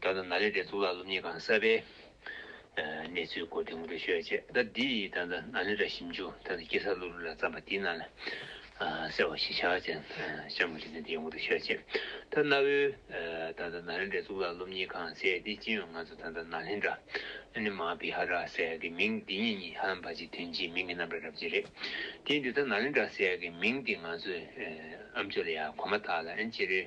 ད་ལྟ་ནཱ་ལེནྡྲའི་གཙུག་ལག་སློབ་གཉེར་ཁང་གསར་པའི་གནས་ཚུལ་སྐོར་འདི་ངོ་སྤྲོད་ཞུ་བ་བྱས། ཟླ་འདིའི་ད་ལྟ་ནཱ་ལེནྡྲ་ཞིབ་འཇུག་ཐང་གི་སྐྱེ་གསར་སློབ་རིམ་ལ་བརྩམས་པ་འདི་ནཱ་ལེནྡྲ་གསལ་བ་ཞེས་བྱ་བ་ཅན་སྤྱང་མོ་ལི་ཐན་འདི་ངོ་སྤྲོད་ཞུ་བ་བྱས། ད་གནའ་བོའི་ད་ལྟ་ནཱ་ལེནྡྲའི་གཙུག་ལག་སློབ་གཉེར་ཁང་གསལ་ཏེ་སྤྱི་ཡོངས་ང་ཚོ་ད་ལྟ་ནཱ་ལེནྡྲ། Anima Vihara། གསལ་གྱི་མིང་འདི་གཉིས་གཉིས་ཧ་ལམ་བར་གྱི་དོན་སྤྱིའི་མིང་གི་རྣམ་པར་རབ་བྱེད་རེད། དེས་འདི་ལྟར་ནཱ་ལེནྡྲ་གསལ་གྱི་མིང་འདི་ང་ཚོའི་ཨམ་ཆོས་ལ་ཡང་གོ་མ་ཐག་ལ་ཨན་ཅེ་རེ།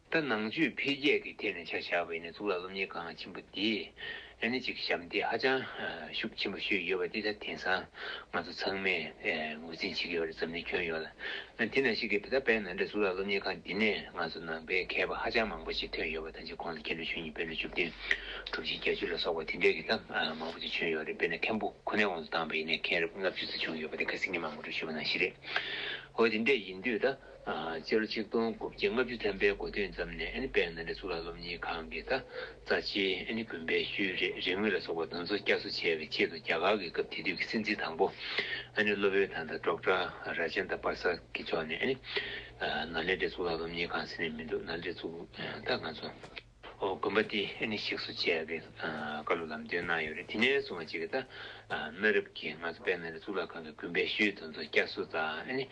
ད་ནང་ཆོས་འཕེལ་རྒྱས་ཀྱི་ཐད་ནས་ཆ་བཞག་པའི་ནི་གཙུག་ལག་སློབ་གཉེར་ཁང་ཆེན་པོ་འདི་ནི་གཅིག་གི་ཞབས་འདེགས་ཧ་ཅང་ཤུགས་ཆེན་པོ་ཞུས་ཡོད་པ་འདི་ད་དེང་སང་ང་ཚོ་ཚང་མས་ངོས་འཛིན་བྱེད་ཀྱི་ཡོད་རེད་འཛམ་གླིང་ཁྱོན་ཡོངས་ལ། དེ་ནང་བཞིན་གྱི་ད་ལྟ་བལ་ནང་འདྲ་གཙུག་ལག་སློབ་གཉེར་ཁང་འདི་ནས་ང་ཚོ་ནང་པའི་མཁས་པ་ཧ་ཅང་མང་པོ་ཞིག་ཐོན་ཡོད་པ་དང་གཅིག་ཁོང་ལ་སྐྱེ་འགྲོ་བཅུ་གཉིས་དཔེར་ན་བཅུ་བདུན་གྲུབ་ཆེན་བརྒྱད་ཅུ་ལ་སོགས་པ་དེ་འདྲའི་གི་ད་མང་པོ་ཞིག་བྱོན་ཡོད་རེད་དཔེར་ན་མཁན་པོ་ཁོ་ནའི་དབང་དུ་བཏང་པའི་ནས་མཁན་རབས་ལྔ་བཅུ་ཙི་བྱུང་ཡོད་པ་དེ་ག་སིང་ངེ་མང་པོ་འགྲུལ་བཞུད་པ་ནང་བཞིན་རེད། འོ་དེ་འདྲས་ཡིན་དུས་ད། སྤྱི་ལོ་ཆིག་སྟོང་དགུ་བརྒྱ་ལྔ་བཅུ་ཐམ་པའི་དགོ་སྟོད་མཚམས་ནས་ཨན་ནི་པའི་ནང་འདྲེན་གཙུག་ལག་སློབ་གཉེར་ཁང་གི་དང་རྩ་ཆེན་ཨན་ནི་དགོན་པའི་ཤུལ་རེ་རེ་དངུལ་ལ་སོགས་པ་འདོན་འཚོ་བསྐྱར་གསོ་བྱ་བའི་ཆེད་དུ་རྒྱ་གར་གྱི་སྐབས་དེ་དུས་ཀྱི་སྲིད་འཛིན་དང་པོ་ཨན་ནི་བློ་བོད་དང་དང་སྒྲོག་དྲ་ར་ཅན་དང་པར་ས་ཀི་མཆོག་ནས་ཨན་ནི་ནཱ་ལེནྡྲའི་གཙུག་ལག་སློབ་གཉེར་ཁང་ཟེར་ནས་མི་འདུག་ནཱ་ལེནྡྲའི་གཙུག་ལག་ང་ཚོ། དགོན་པ་དེ་ནི་གཤེགས་སུ་བཅས་པའི་བཀའ་སློབ་ལམ་སྟོན་གནང་ཡོད་རེད་དེ་ནས་བཟུང་བ་ཅིག་གིས་གནའ་རབས་ཀྱི་ང་ཚོ་པད་མ་ལ་གཙུག་ལག་ཁང་གི་དགོན་པའི་ཤུལ་དང་ཚོ་སྐྱ་སུ་དང་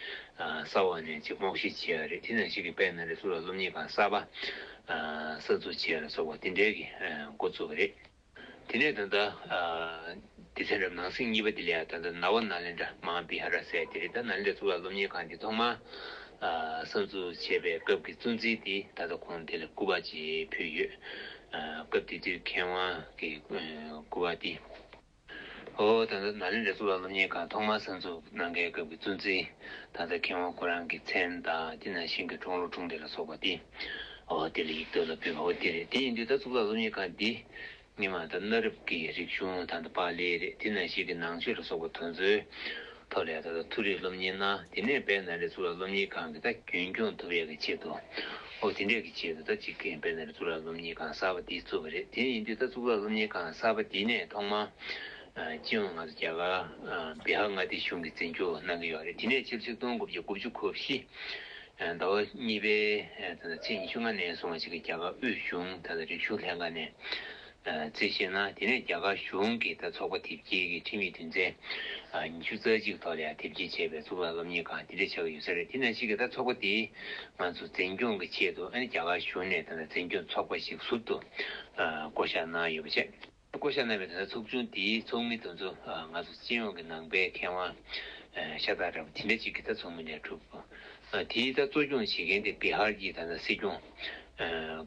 གསར་བ་ནས་ཅིག་སྨོག་བཤིག་བྱས་པ་རེད་དེ་ནས་ཤིག་གིས་པད་མ་ལ་གཙུག་ལག་སློབ་གཉེར་ཁང་གསར་བ་གསར་འཛུགས་བྱས་ལ་སོགས་པ་དེ་འདྲའི་འགོ་བཙུགས་པ་རེད། དེ་ནས་ད་ལྟ། སྡེ་ཚན་རབ་ནང་སེང་གཉིས་པ་དེ་ལས་ད་ལྟ་ན་བ་ན་ལེན་དྲ་དམངས་བི་ཧ་ར་སའི་དེ་རི་དང་ན་ལེན་དྲ་གཙུག་ལག་སློབ་གཉེར་ཁང་དེ་ཐོག་མར། གསར་འཛུགས་བྱས་པའི་སྐབས་ཀྱི་གཙོ་འཛིན་དེ་ད་ལྟ་ཁོང་དེ་ལ་སྐུ་པར་བཅས་ཕུལ་ཡོད། སྐབས་དེ་དུས་མཁས་དབང་གི་སྐུ་པར་དེ། ཧོ། ད་ལྟ་ན་ལེན་དྲ་གཙུག་ལག་སློབ་གཉེར་ཁང་ཐོག་མར་གསར་འཛུགས་གནང་མཁན་སྐབས་ཀྱི་གཙོ་འཛིན་ད་ལྟ་མཁས་དབང་ཁོ་རང་གི་མཚན་དང་དེ་ནང་བཞིན་གྱི་ཁྲོང་ལོ་ཁྲུང་སྡེ་ལ་སོགས་པ་དེ། དེ་ལ་ཡིག་ཐོག་ལ་ཕེབས་པ་བོ་དེ་རེད། དེ་ཡིན་དུས་ད་གཙུག་ལག་སློབ་གཉེར་ཁང་འདི་ཉིད་མ་ད་གནའ་རབས་ཀྱི་རིག་གཞུང་ད་ད་པཱ་ལི་རེད་དེ་ན་ཞིག་གི་ནང་ཆོས་ལ་སོགས་པ་དོན་ཚོའི་ཐོག་ལས་ད་ད་ཐུགས་རེ་སློབ་གཉེར་གནང་དེ་ནས་བལ་ན་རེ་གཙུག་ལག་སློབ་གཉེར་ཁང་གི་ད་རྒྱུན་སྐྱོང་ཐུབ་ཡག་གི་ཆེད་དུ་འོ་དེ་འདྲས་ཀྱི་ཆེད་དུ་ད་ཅིག་གིས་བལ་ན་རེ་གཙུག་ལག་སློབ་གཉེར་ཁང་གསར་པ་འདི་བཙུགས་པ་རེད་དེ་ཡིན་དུས་ད་གཙུག་ལག་སློབ་གཉེར་ཁང་གསར་པ་འདི་ནས་ཐོག་མ་སྤྱི་ཡོངས་ང་ཚོ་རྒྱ་གར་བི་ཧར་མངའ་སྡེ་གཞུང་གིས་འཛིན་སྐྱོང་གནང་གི་ཡོད་རེད་དེ་ནས་ཕྱིར་ཆིག་སྟོང་དགུ་བརྒྱ་དགུ་བཅུ་གོ་བཞི། ཟླ་བ་གཉིས་པའི་ཚེས་ཉི་ཤུ་ལྔ་ནས་བཟུང་བ་ཞིག་གིས་རྒྱ་གར་དབུས་གཞུང་དང་རིག་གཞུང་ལྷན་ཁང་ནས་རྩིས་བཞེས་གནང། དེ་ནས་རྒྱ་གར་གཞུང་གི་ཚོགས་པ་དེབ་སྐྱེལ་གྱི་ཁྲིམས་ཡིག་བདུན་ཚན་ཉི་ཤུ་རྩ་གཅིག་ཐོག་ལ་དེབ་སྐྱེལ་བྱས་པའི་གཙུག་ལག་སློབ་གཉེར་ཁང་དེ་འདྲ་ཆགས་ཀྱི་ཡོད་ས་རེད་དེ་ནང་བཞིན་ཚོགས་པ་དེས་ང་ཚོ་འཛིན་སྐྱོང་གི་ཆེད་དུ་རྒྱ་གར་གཞུང་ནས་འཛིན་སྐྱོང་ཚོགས་པ་ཞིག་ཟུར་དུ་བསྐོ་བཞག་གནང་ཡོད་པ་བཅས། བསྐོ་བཞག་གནང་བའི་དོན་དག་ཚོགས་ཆུང་དེའི་ཚོགས་མི་དང་ཚོ་ང་ཚོ་སྤྱི་ཡོངས་ཀྱི་ནང་པའི་མཁས་དབང་ཤ་སྟག་རེད་བ་དེ་འདྲ་གཅིག་གི་ད་ཚོགས་མི་ནས་གྲུབ། དེའི་ད་གཙོ་སྐྱོང་བྱེད་མཁན་དེ་བི་ཧར་གྱི་ད་སྲིད་སྐྱོང།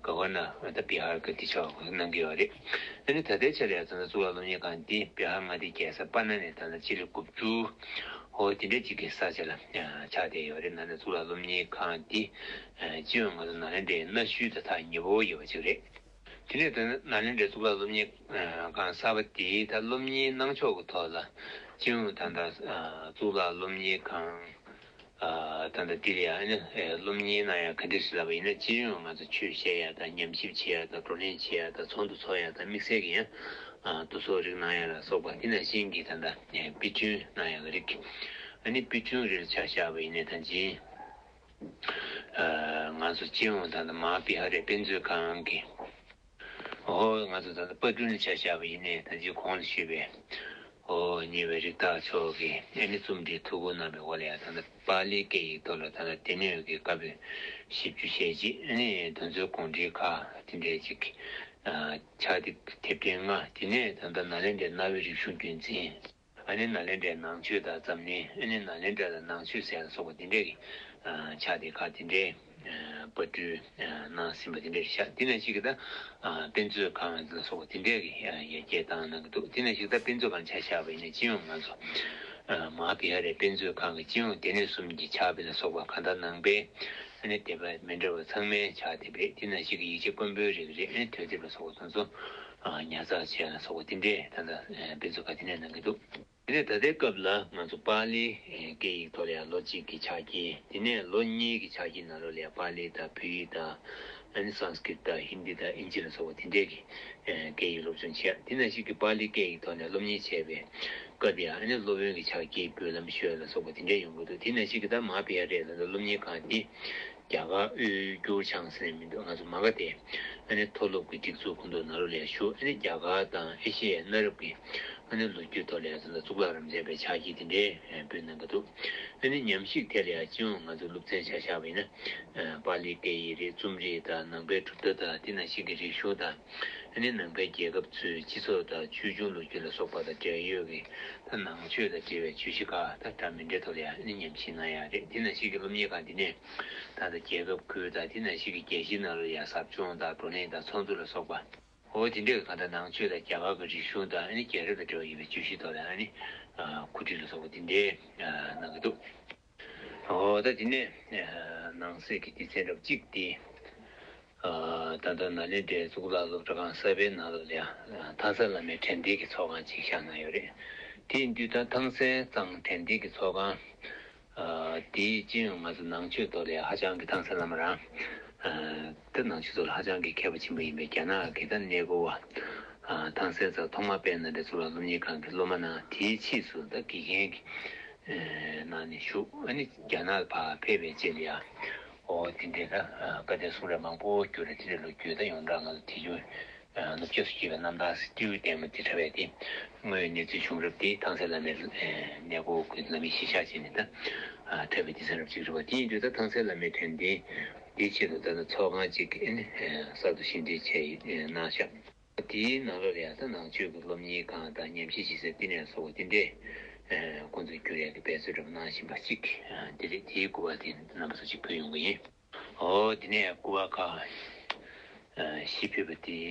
Governor། ད་བི་ཧར་གི་དེ་ཆགས་པ་གནང་གི་ཡོད་རེད། ད་ལྟའི་ཆར་ཡང་ད་གཙུག་ལག་སློབ་གཉེར་ཁང་དེ་བི་ཧར་མངའ་སྡེའི་རྒྱལ་ས་པ་ན་ནས་ད་སྤྱི་ལེ་དགུ་བཅུ། ཧོ་དེ་འདྲ་གཅིག་གི་ས་ཆ་ལ་ཆགས་བསྡད་ཡོད་རེད་ན་ད་གཙུག་ལག་སློབ་གཉེར་ཁང་དེ་སྤྱི་ཡོངས་ང་ཚོ་ནཱ་ལེནྡྲའི་གནའ་ཤུལ་ད་ཐག་ཉི་བོ་ཡོད་པ་གཅིག་རེད། དེ་ནས་ད་ནཱ་ལེནྡྲའི་གཙུག་ལག་སློབ་གཉེར་ཁང་གསར་པ་དེའི་ད་སློབ་གཉེར་གནང་ཕྱོགས་ཀྱི་ཐོག་ལ་སྤྱན་ཨུ་དྷ་ནཱ་གཙུག་ལག་སློབ་གཉེར་ཁང་དང་ད་འདིར་ཡང་སློབ་གཉེར་གནང་ཡ་ག་འདིར་ཞིག་ལབ་པ་ཡིན་ན་སྤྱི་ཡོངས་ང་ཚོ་ཆོས་བཤད་ཡ་དང་ཉམས་ཞིབ་བྱེད་ཡ་དང་བགྲོ་གླེང་བྱེད་ཡ་དང་ཚོགས་འདུ་ཚོགས་ཡ་དང་དམིགས་བསལ་གྱི་ཡང་བསྡུ་གསོག་རིགས་གནང་ཡ་ལ་སོགས་པ་དེ་ནང་བཞིན་གྱི་ད་ནཱ་པི་ཅུན་གནང་ཡ་གི་རིགས་ཨ་ནི་པི་ཅུན་རེར་ཆ་བཞག་པ་ཡིན་ནས་ད་འཇིན། ང་ཚོ་སྤྱི་ཡོངས་དང་ཐ་མ་བི་ཧ་རའི་དཔེ་མཛོད་ཁང་གིས་ཧོ་ང་ཚོ་ད་ལྟ་དཔར་སྐྲུན་བྱ་བཞག་པ་ཡིན་ནའི་ད་ཅི་གོང་དུ་ཞུས་པའི་ཧོ་ཉེ་བའི་རིགས་བདག་མཆོག་གིས་ཨེ་ནི་རྩོམ་འབྲིའི་ཐུགས་ཁུར་གནང་པའི་འོག་ལ་ཡང་ད་ལྟ་པཱ་ལིའི་སྐད་ཡིག་ཐོག་ལ་ད་ལྟ་སྡེ་སྣོད་ཀྱི་བཀའ་པོད་བཞི་བཅུ་ཞེ་གཅིག་ཨེ་ནི་དུ་མཛོད་དགོངས་འགྲེལ་ཁག་དེ་འདྲའི་གཅིག་ཕྱག་དེབ་དེབ་ཐེར་ལྔ་དེ་ནས་ད་ལྟ་ནཱ་ལེནྡྲའི་གནའ་བོའི་རིག་གཞུང་རྒྱུན་འཛིན། ཨ་ནེ་ན་ལེན་དྲའི་ནང་ཆོས་དང་འཛམ་གླིང་ཨེ་ནེ་ན་ལེན་དྲ་ལ་ནང་ཆོས་ཟེར་ལ་སོགས་པ་འདི་འདྲའི་ཆགས་ཏེ་ཁག་འདི་འདྲའི་པར་སྐྲུན་གནང་ཟིན་པ་འདི་འདྲའི་ཆགས་དེ་ནས་ཤིག་ད་དཔེ་མཛོད་ཁང་འདི་ལ་སོགས་པ་འདི་འདྲའི་ཡར་རྒྱས་བཏང་གནང་གི་འདུག་དེ་ནས་ཤིག་ད་དཔེ་མཛོད་ཁང་ཆགས་ཤག་པའི་ནས་སྤྱི་ཡོངས་ང་ཚོ་མ་གི་ཡ་རེ་དཔེ་མཛོད་ཁང་གི་སྤྱི་ཡོངས་དེ་ནས་གསུམ་གྱི་ཆགས་པའི་ལ་སོགས་པ་གང་དག་ནང་པའི་ཨེ་ནེ་དེ་པ་མི་འདྲ་བ་ཚང་མའི་ཆགས་དེ་པས་དེ་ནས་ཤིག་གི་ཡིག་ཆ་དཀོན་པོའི་རིགས་རེད་ཨེ་ནེ་དོས་དེབ་ལ་སོགས་པ་དང་ཚོ། ཉར་ཚགས་བྱས་ལ་སོགས་པ་འདི་འདྲའི་ད་ལྟ་དཔེ་མཛོད་ཀ་དེ་ནས་གནང་གི་འདུག་དེ་ནས་ད་ལྟའི་སྐབས་ལ་ང་ཚོ་པ་ལིའི་སྐད་ཡིག་ཐོག་ལ་ཡང་ལོ་གཅིག་གི་ཕྱག་ཁྱི་དེ་ནས་ལོ་གཉིས་ཀྱི་ཕྱག་ཁྱི་ནང་ལོགས་ལ་ཡང་པ་ལི་དང་བོད་ཡིག་དང། ཨཱ་ནི Sanskrit དང Hindi དང་ཨིན་ཇི་ལ་སོགས་པ་དེ་འདྲས་ཀྱི་སྐད་ཡིག་སློབ་སྦྱོང་བྱས་དེ་ནས་ཤིག་གི་པ་ལིའི་སྐད་ཡིག་ཐོག་ནས་སློབ་གཉེར་བྱས་པའི་སྐབས་དེ་ཡང་ཨཱ་ནི་སློབ་དཔོན་གྱི་ཕྱག་ཁྱི་བོད་ལམ་ཤོད་ལ་སོགས་པ་དེ་འདྲས་ཡོང་གི་འདུག་དེ་ནས་ཤིག་གི་ད་མ་པི་ཡ་རེ་ལ་ད་སློབ་གཉེར་ཁང་དེ་རྒྱ་གར་དབུས་འགྱུར་བྱང་ཟེར་ནས་མི་འདུག་ང་ཚོ་མ་ག་དེ་ཨ་ནི་མཐོ་སློབ་ཀྱི་སྒྲིག་འཛུགས་ཀུན་ཏུ་ན་རོ་ལས་ཞུགས་ཨ་ནི་རྒྱ་གར་དང་ཨེ་ཤེ་ཡའི་གནའ་རབས་ཀྱི་ཨ་ནི་ལོ་རྒྱུས་ཐོག་ལས་ཚོ་ལ་གཙུག་ལག་རམ་མཛད་པའི་ཕྱག་བགྱིས་དེ་འདྲའི་འབུལ་གནང་གི་འདུག་ཨ་ནི་ཉམས་ཞིག་ཐད་ལ་ཡང་སྤྱི་ཡོངས་ང་ཚོ་སློབ་ཚན་བྱ་བཞག་པ་ཡིན་ན་པཱ་ལིའི་སྐད་ཡིག་རིགས་རྩོམ་རིག་དང་ནང་པའི་གྲུབ་མཐའ་དང་དེ་ན་ཞིག་གི་རིག་གཞུང་དང། ཨ་ནི་ནང་པའི་རྒྱལ་ཁབ་ཚོའི་སྤྱི་ཚོགས་དང་ཆོས་འབྱུང་ལོ་རྒྱུས་ལ་སོགས་པ་དང་འབྲེལ་ཡོད་ཀྱི་ཐ་ནང་ཆོས་དང་འབྲེལ་བའི་བརྗོད་གཞི་ཁག་དང་སྒྲ་མི་འདྲེ་དོ་ལེ་ཨ་ནི་ཉམས་ཤིང་ན་ཡག་རེད་དེ་ནང་བཞིན་གྱི་སློབ་གཉེར་ཁང་འདི་ནས་ད་ལྟ་རྒྱལ་ཁབ་ཁུལ་དང་དེ་ནང་བཞིན་གྱི་རྒྱལ་སྤྱིའི་ནང་ལོ་ཡག་ཟབ་སྦྱོང་དང་བགྲོ་གླེང་དང་ཚོགས་འདུ་ལ་སོགས་པ། འོ་དེ་འདྲས་ཀྱི་ཁང་དང་ནང་ཆོས་དང་རྒྱ་གར་གྱི་རིག་གཞུང་དང་ཨ་ནི་རྒྱལ་རབས་དང་འབྲེལ་བ་ཡོད་པའི་བརྗོད་གཞི་དོ་ལེ་ཨ་ནི་ཁུ་ཁྲིད་ལ་སོགས་པ་འདི་འདྲས་གནང་གི་འདུག། ད་དེ་ནས་ནང་གསེས་ཀྱི་སྡེ་ཚན་རབ་གཅིག་འདི། ད་ལྟ་ནཱ་ལེནྡྲའི་གཙུག་ལག་སློབ་གྲྭ་ཁང་གསར་པའི་ནང་ལ་ལེ་ཐང་སན་བླ་མའི་དྲན་རྟེན་གྱི་ཚོགས་ཁང་གཅིག་བཞག་གནང་ཡོད་རེད། དེ་ཡིན་དུས་ད་ཐང་སན་གཙང་དྲན་རྟེན་གྱི་ཚོགས་ཁང་འདི་ཅི་ཡང་ང་ཚོ་ནང་ཆོས་ཐོག་ལས་ཧ་ཅང་གི་ཐང་སན་བླ་མ་རང་འདི་ནང་ཆོས་ཐོག་ལ་ཧ་ཅང་གི་མཁས་པ་ཆེན་པོ་ཡིན་པས་རྒྱ་ནག་གི་ད་གནས་སྒོ་བ་ཐང་སན་ཙག་ཐོག་མ་དཔལ་ནཱ་ལེནྡྲའི་གཙུག་ལག་སློབ་གཉེར་ཁང་གི་སློབ་མ་རྣམས་དེའི་ཕྱིས་སུ་ད་དགེ་རྒན་གྱི་གནང་ནས་བཞུགས་ཨ་ནི་རྒྱ་ནག་ལ་ཕར་ཕེབས་པའི་རྗེས་ལ་ཡང། འོ་དེ་འདྲའི་ལྷ་བཀའ་བསྟན་སྲུང་རེ་མང་པོ་བསྐྱུར་རེ་དེ་འདྲའི་ལོ་རྒྱུས་ད་ཡོང་གྲགས་ང་ལ་དེ་བྱུང། ནུབ་ཕྱོགས་སུ་སྐྱེས་པའི་རྣམ་ཐར་སྤྲེའུའི་ལྟས་མོ་དེ་འདྲ་བས་དེ་སྔོན་གནས་ཚུལ་བྱུང་རབས་དེ་ཐང་སའི་བླ་མའི་གནས་སྒོ་ཀུན་ལ་མི་ཤེས་ཤག་བྱས་ནས་ད་ཐོས་པའི་དེ་ཚན་རབས་ཅིག་རེད་བ་དེ་ཡིན་དུས་ད་ཐང་སའི་བླ་མའི་དྲན་རྟེན་དེའི་ཆེད་དུ་ད་ནི་ཚོགས་ཁང་ཅིག་གི་ཨ་ནི་གསར་དུ་ཤིང་འབྲས་ཆེ་གནང་ཤག། དེའི་ནང་ལོ་རེར་ས་ནག་ཆུས་ཀྱི་སློབ་གཉེར་ཁང་དང་ཉམས་ཞིབ་བྱེད་སའི་བསྟི་གནས་སོགས་དེ་འདྲའི་ཀུན་ཏུ་འགྱུར་ཡག་གི་འབད་རྩོལ་རབ་གནང་བཞིན་པ་གཅིག་དེ་རེད་དེའི་སྐུར་བ་དེ་རྣམ་པ་སུ་གཅིག་ཕུལ་ཡོང་གི་ཡིན། དེ་ནས་སྐུར་བ་ཁག་བཞི་ཕུལ་བ་དེའི་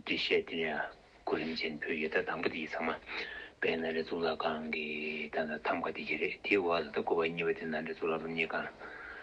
འབྲི་བཤད་དེ་ཡང་གོ་རིམ་ཅན་ཕུལ་ཡོད་ད་དང་པོ་དེ་ཚང་མ་དཔལ་ནཱ་རེ་གཙུག་ལག་ཁང་གི་ཐམ་ཁ་དེ་གཅིག་རེད་དེའི་འོག་ད་ལྟ་སྐུར་བ་གཉིས་པ་དེ་ནཱ་རེ་གཙུག་ལག་སློབ་གཉེར་ཁང་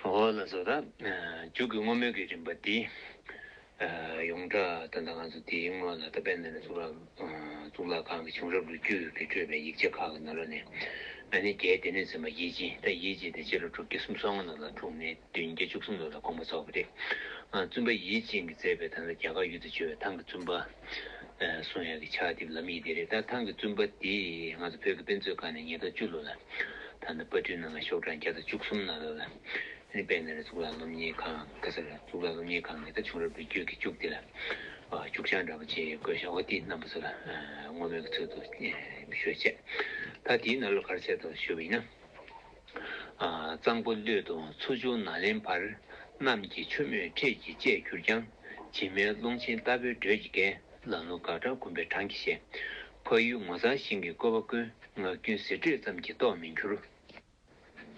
ངོ་བོ་ལ་སོགས་དག། རྒྱུད་ཀྱི་བསྔོ་སྨོན་གྱི་རིམ་པ་འདི། ཡོངས་གྲགས་དོན་དང་ང་ཚོ་དེའི་སྔོན་ལ་ད་པད་ནཱ་ལེནྡྲའི་གཙུག་ལག་གཙུག་ལག་ཁང་གི་བྱུང་རབས་ལོ་རྒྱུས་ཀྱི་སྤྲོས་པའི་ཡིག་ཆ་ཁག་གི་ནང་རོལ་ནས། ན་ནིང་རྒྱའི་སྡེ་སྣོད་ཚན་པ་དབྱེ་འབྱེད་དང་དབྱེ་འབྱེད་དེ་སྤྱི་ལོ་དྲུག་བརྒྱ་སུམ་སོ་ལྔ་ལོ་ལ་འཁྲུངས་ནས་བདུན་བརྒྱ་བཅུ་གསུམ་ལོ་ལ་དགོངས་པ་རྫོགས་པ་རེད། བཙུན་པ་ཡིད་བཞིན་གྱིས་མཛད་པའི་ཐང་ལ་རྒྱ་གར་ཡུལ་དུ་བྱོལ་བའི་ཐང་གི་བཙུན་པ། གསུང་ཡག་གི་ཕྱག་དེབ་ལམ་ཡིག་དེ་རེད་ད་ཐང་གི་བཙུན་པ་དེས་ང་ཚོ་བོད་ཀྱི་དཔེ་མཛོད་ཁང་ནས་ཉིས་སྟོང་བཅུ་ལོ་ལ་ད་ལྟ་དཔར་སྐྲུན་གནང་ལ་ཤོག་གྲངས་བརྒྱ་དང་བཅུ་གསུམ་ན་ལོ་ལ་ཨིན་དཔལ་ནས་རེད་གཙུག་ལག་སློབ་གཉེར་ཁང་ག་ས་རེད་གཙུག་ལག་སློབ་གཉེར་ཁང་ནས་ད་བྱུང་རབས་བོད་བརྒྱུད་ཀྱི་སྐྱུག་དེ་ལ་སྐྱུག་ཆང་འདྲ་པོ་བྱེད་དགོས་ཤག་ཨོ་ཏི་རྣམ་པ་ཚོ་ལ་བསྔོ་སྨོན་གྱི་ཚུལ་དུ་ཞུ་བྱེད་ད་དེའི་ནང་ལོ་གར་ཚད་དང་ཞུ་བ་ཡིན་ན། གཙང་པོ་གླུད་དུ་ཚུར་བྱུང་ན་ལེན་བར། གནམ་གྱི་ཆུ་མོས་ཁྲེས་ཀྱིས་བཅད་གྱུར་ཀྱང། བྱེ་མའི་ཀློང་ཆེན་རྟ་ཕོའི་འགྲོས་ཀྱིས་བརྒལ། ལ་ནུ་དགག་དྲག་འགུམ་པའི་གྲངས་ཀྱིས་བཤད། ཕ་ཡུལ་ངོ་མཚར་ཞིང་གི་བཀོད་པ་ཀུན། ངག་རྒྱུན་ཟེར་སྒྲོས་ཙམ་གྱིས་རྟོགས་མི་འགྱུར།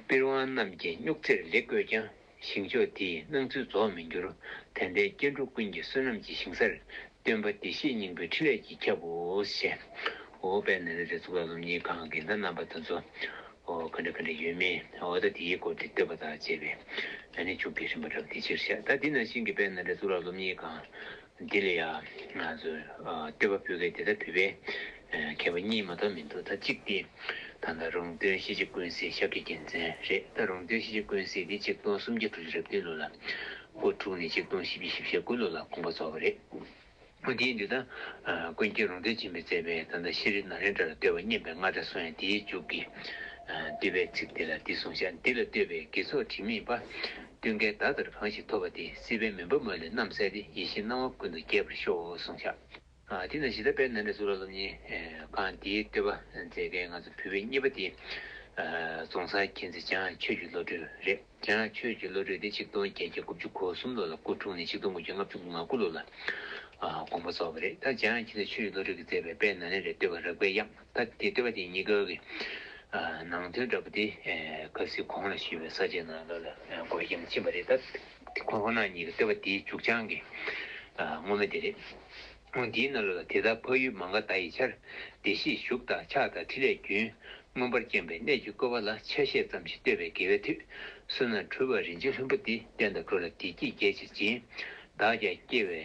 པིར་དབང་རྣམས་ཀྱིས་སྨྱུག་རྩེར་ལེགས་བཀོད་ཀྱང། ཞིང་མཆོག་དེའི་སྣང་ཚུལ་རྫོགས་མི་འགྱུར། དེ་ལྟའི་སྐྱེ་འགྲོ་ཀུན་གྱི་བསོད་ནམས་ཀྱི་ཞིང་སར། སྟོན་པ་བདེ་གཤེགས་སྙིང་པོའི་ཕྲིན་ལས་ཀྱིས་ཁྱབ་བོ། ཞེས། འོ་དཔལ་ནཱ་ལེནྡྲའི་གཙུག་ལག་སློབ་གཉེར་ཁང་གི་མདའ་རྣམ་པ་དང་མཚོ། ག་འདྲ་ག་འདྲ་ཡོད་མེད་འོ་ད་དེའི་སྐོར་དེ་བསྟོད་པ་དང་བཅས་པའི། ནི་བཅུག་གི་རིམ་པ་རབ་འདི་ཕྱིར་བཤད་ད་འདི་ནང་བཞིན་གྱི་དཔལ་ནཱ་ལེནྡྲའི་གཙུག་ལག་སློབ་གཉེར་ཁང། འདི་ལ་ཡང་ང་ཚོས་བསྟོད་པ་འབུལ་མཁན་དེ་དག་བོད་པའི་མཁས་པ་གཉིས་མ་གཏོགས་མི་འདུག་ད་གཅིག་དེ་ད་ལྟ་རོང་སྟོན་གཞིས་བྱེས་ཀུན་གསལ་ཞབས་ཀྱི་རྒྱལ་མཚན་རེད་ད་རོང་སྟོན་གཞིས་བྱེས་ཀུན་གསལ་དེ་ཆིག་སྟོང་སུམ་བརྒྱ་དྲུག་ཅུ་རེ་བདུན་ལོ་ལ་སྐུ་འཁྲུངས་ནས་ཆིག་སྟོང་བཞི་བཅུ་བཞི་བཞི་དགུ་ལོ་ལ་དགོངས་པ་རྫོགས་པ་རེད། མོ་དེའི་འདི་ད་ཀུན་མཁྱེན་རོང་སྟོན་སྦྱིན་པས་བསྩལ་པའི་ད་ལྟ་ཤེས་རིག་ན་རེ་འདྲ་ལ་བསྟོད་པ་སྙན་པའི་རྔ་སྒྲ་སོང་ཡང་དེའི་མཇུག་གི་བསྟོད་པའི་ཚིག་དེ་ལ་འདི་གསུངས་བཞག་འདི་ལ་བསྟོད་པའི་དགེ་ཚོགས་དྲི་མེད་པ། ཀུན་དགའི་བདག་དེར་གང་ཞིག་ཐོབ་པ་དེས་སྲིད་པའི་མུན་པ་མ་ལུས་རྣམ་བསལ་ཏེ་ཡེ་ཤེས་སྣང་བ་ཀུན་ཏུ་རྒྱས་པར་ཤོག་གསུང་བྱ། དེས་ན་གཞི་ལྟ་བས་ན་འབྲས་བུ་ལ་སློབ་གཉེར་གང་དེའི་བསྟོད་པ་མཛད་མཁན་ང་ཚོ་བོད་པའི་གཉིས་པ་དེ། རྫོང་སར་མཁྱེན་བརྩེ་བྱང་ཆོས་ཀྱི་བློ་གྲོས་རེད་བྱང་ཆོས་ཀྱི་བློ་གྲོས་དེ་ཆིག་སྟོང་བརྒྱད་བརྒྱ་དགུ་བཅུ་གོ་གསུམ་ལོ་ལ་སྐུ་འཁྲུངས་ནས་ཆིག་སྟོང་དགུ་བརྒྱ་ལྔ་བཅུ་དགུ་ང་དགུ་ལོ་ལ་དགོངས་པ་རྫོགས་པ་རེད་ད་བྱང་ཆེན་ཚེ་ཆོས་ཀྱི་བློ་གྲོས་ཀྱིས་མཛད་པའི་དཔལ་ནཱ་ལེནྡྲའི་བསྟོད་པ་རག་པའི་དབྱངས། སྐབས་དེ་ལྟེ་བ་དེ་གཉིས་ཀའི་ནང་དོན་འདྲ་པོ་དེ་གབ་ཟིལ་གོང་ལ་ཞུ་བའི་ས་བཅད་ནང་ལ་ལ་འགོད་རྒྱུ་མ་ཕྱིན་པ་རེད་སྟབས་ཁོ་ན་ཉིད་ཀྱི་ལྟེ་བ་དེའི་མཇུག་བྱང་གི་དངོས་མ་དེ་རེད། དངོས་འདིའི་ནང་ལ་ལ་དེ་དག་འཕགས་ཡུལ་མ་འགགས་ད་ཡི་ཆར་བདེ་གཤེགས་བཞུགས་དང་ཕྱག་དང་ཁྲི་ལས་རྒྱུན་མངོན་པར་བསྐྱངས་པའི་གནད་ཀྱི་བཀོད་པ་ལ་ཆ་ཤས་ཙམ་ཞིག་བསྟོད་པའི་དགེ་བའི་མཐུས་བསོད་ནམས་འཕྲུལ་བ་རིན་ཆེན་ལྷུན་པོ་འདི་བསྟན་དང་བསྒྲུབ་ལ་བདེ་སྐྱིད་རྒྱས་ཆེར་སྦྱིན། བདག་ཀྱང་སྐྱེ་བའི།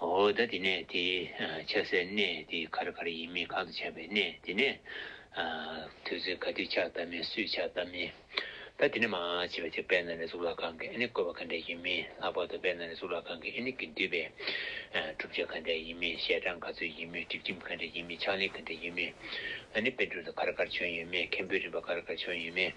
འོ་ད་དེ་ནས་དེ་ཆགས་སའི་གནས་དེ་གར་གར་ཡིན་མིན་གང་དུ་ཆགས་པའི་གནས་དེ་ནས་དུས་ཚོད་ག་དུས་ཆགས་ཐབས་མིན་སུས་ཆགས་ཐབས་མིན་ད་དེ་ནས་མ་ཕྱི་བ་ཅིག་དཔལ་ནཱ་ལེནྡྲའི་གཙུག་ལག་ཁང་གི་ཨེ་ནི་བཀོད་པ་ག་འདྲས་ཡིན་མིན་ལྷག་པར་དུ་དཔལ་ནཱ་ལེནྡྲའི་གཙུག་ལག་ཁང་གི་ཨེ་ནི་གི་འདུས་པའི་གྲུབ་ཆ་ག་འདྲས་ཡིན་མིན་ཞལ་གྲངས་ག་ཚོད་ཡིན་མིན་སྒྲིག་ཁྲིམས་ག་འདྲས་ཡིན་མིན་ཕྱག་ལེན་ག་འདྲས་ཡིན་མིན་ཨ་ནི་དཔེ་སྒྲུབ་དུ་གར་གར་བྱོན་ཡོད་མེད་མཁན་པོའི་རིམ་པ་གར་གར་བྱོན་ཡོད་མེད།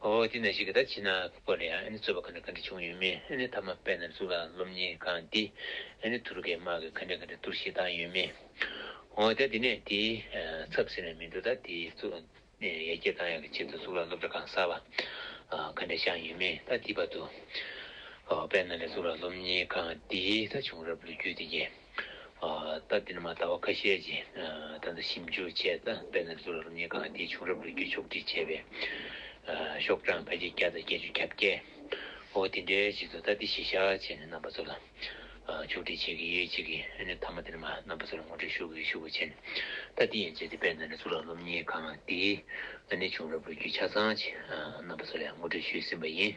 ཨོ་དེ་ནས་ཞིག་གི་ད་ཕྱི་ན་ཁུག་པ་ལ་ཡང་ཨེ་ནི་རྩོད་པ་ག་འདྲ་ག་འདྲ་བྱུང་ཡོད་མེད་ཨེ་ནི་མཐའ་མ་པད་ནར་ཟུག་ལ་སློབ་གཉེར་ཁང་འདི་ཨེ་ནི་དུར་ཁའི་དམག་གིས་ག་འདྲ་ག་འདྲ་གཏོར་བཤིག་བཏང་ཡོད་མེད་ཨོ་ད་དེ་ནས་དེའི་ཚབ་ཟེར་ནས་མི་འགྲོ་ད་དེའི་གཙོས་ཡར་རྒྱས་བཏང་ཡག་གི་ཆེད་དུ་ཟུག་ལ་སློབ་གྲྭ་གང་གསར་བ་ག་འདྲ་བཞག་ཡོད་མེད་ད་དེའི་བར་དུ་ཨོ་པད་ནར་ལས་ཟུག་ལ་སློབ་གཉེར་ཁང་འདི་ད་བྱུང་རབས་ལོ་རྒྱུས་དེ་རྒྱལ། སྟབས་བདེ་ན་མ་ད་བ་ཁ་ཤས་ཀྱིས་ད་ལྟ་ཞིབ་འཇུག་བྱས་ཏེ་དཔལ་ནཱ་ལེནྡྲ་རབ་གཉིས་སྒང་སྡེའི་བྱུང་རབས་ལོ་རྒྱུས་ཕྱོགས་བསྒྲིགས་བྱས་པའི་ཤོག་གྲངས་ཕལ་ཆེར་བརྒྱ་དང་བརྒྱད་ཅུ་གྱ་བརྒྱད། འོ་དེ་འདྲའི་ཞིག་ཏུ་སྟབས་བདེ་ཞེས་བྱ་བ་བྱས་ནས་རྣམ་པ་ཚོ་ལ་ཕྱོགས་བསྒྲིགས་བྱེད་ཀྱི་ཡོད་ཅིག་གིས་ཨ་ནེ་ཐ་མ་དེ་ནས་མ་རྣམ་པ་ཚོ་ལ་ངོ་སྤྲོད་ཞུ་གི་ཞུ་གི་བྱས་ནས་ད་འདི་ཡན་ཆད་དེ་དཔལ་ནཱ་ལེནྡྲ་རབ་གཉིས་སྒང་སྡེའི་ཨ་ནེའི་བྱུང་རབས་ལོ་རྒྱུས་ཆ་ཚང་ཆེད་རྣམ་པ་ཚོ་ལ་ངོ་སྤྲོད་ཞུས་ཟིན་པ་ཡིན།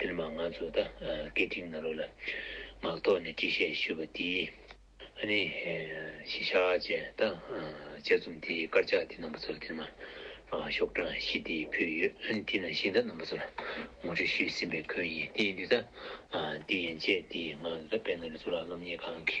དེར་མ་ང་ཚོ་ད་སྐད་འཕྲིན་ནང་རོགས་ལ་ངག་ཐོག་ནས་དྲི་ཤད་ཞུས་པ་དེའི་ཨ་ནེ་ཤི་ཤ་ཅེ་ད་དཔྱད་རྩོམ་དེའི་དཀར་ཆག་དེ་རྣམ་པ་ཚོར་དེར་མ་ཤོག་གྲངས་བཞི་དེ་ཕུལ་ཡོད་དེ་ནང་བཞིན་ད་རྣམ་པ་ཚོར་ངོ་སྤྲོད་ཞུས་ཟིན་པའི་ཁོལ་ཡིན་དེ་ཡིན་དུས་ད་དེ་ཡན་ཆད་དེ་ང་ད་དཔལ་ནཱ་ལེནྜ་གཙུག་ལག་སློབ་གཉེར་ཁང་གི།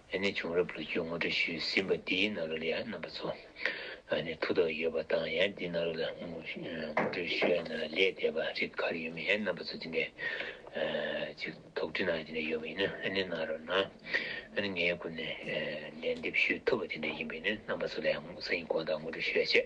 ཨ་ནི་བྱུང་རབས་ལོ་རྒྱུས་ངོ་སྤྲོད་ཞུས་ཟིན་པ་འདིའི་ནང་རོལ་ཡ་རྣམ་པ་ཚོ་ཨ་ནི་ཐུགས་དག་ཡོད་པ་དང་ཡང་འདི་ནང་རོལ་ཡ་ངོ་སྤྲོད་ཞུས་ཡ་ན་ལས་འདས་པ་རིགས་ག་རེ་ཡོད་མེད་རྣམ་པ་ཚོ་འདི་ནས་ཅིག་དོགས་འདྲི་གནང་ཡ་དེ་འདྲ་ཡོད་པ་ཡིན་ན་ཨ་ནི་གནང་རོགས་གནང་ཨ་ནི་ངའི་སྐུ་ནས་ལན་འདེབས་ཞུས་ཐུབ་པ་དེ་འདྲ་ཡིན་པ་ཡིན་ན་རྣམ་པ་ཚོ་ལས་ས་ཡིན་གོང་དག་ངོ་སྤྲོད་ཞུས་ཡ་ཆེ།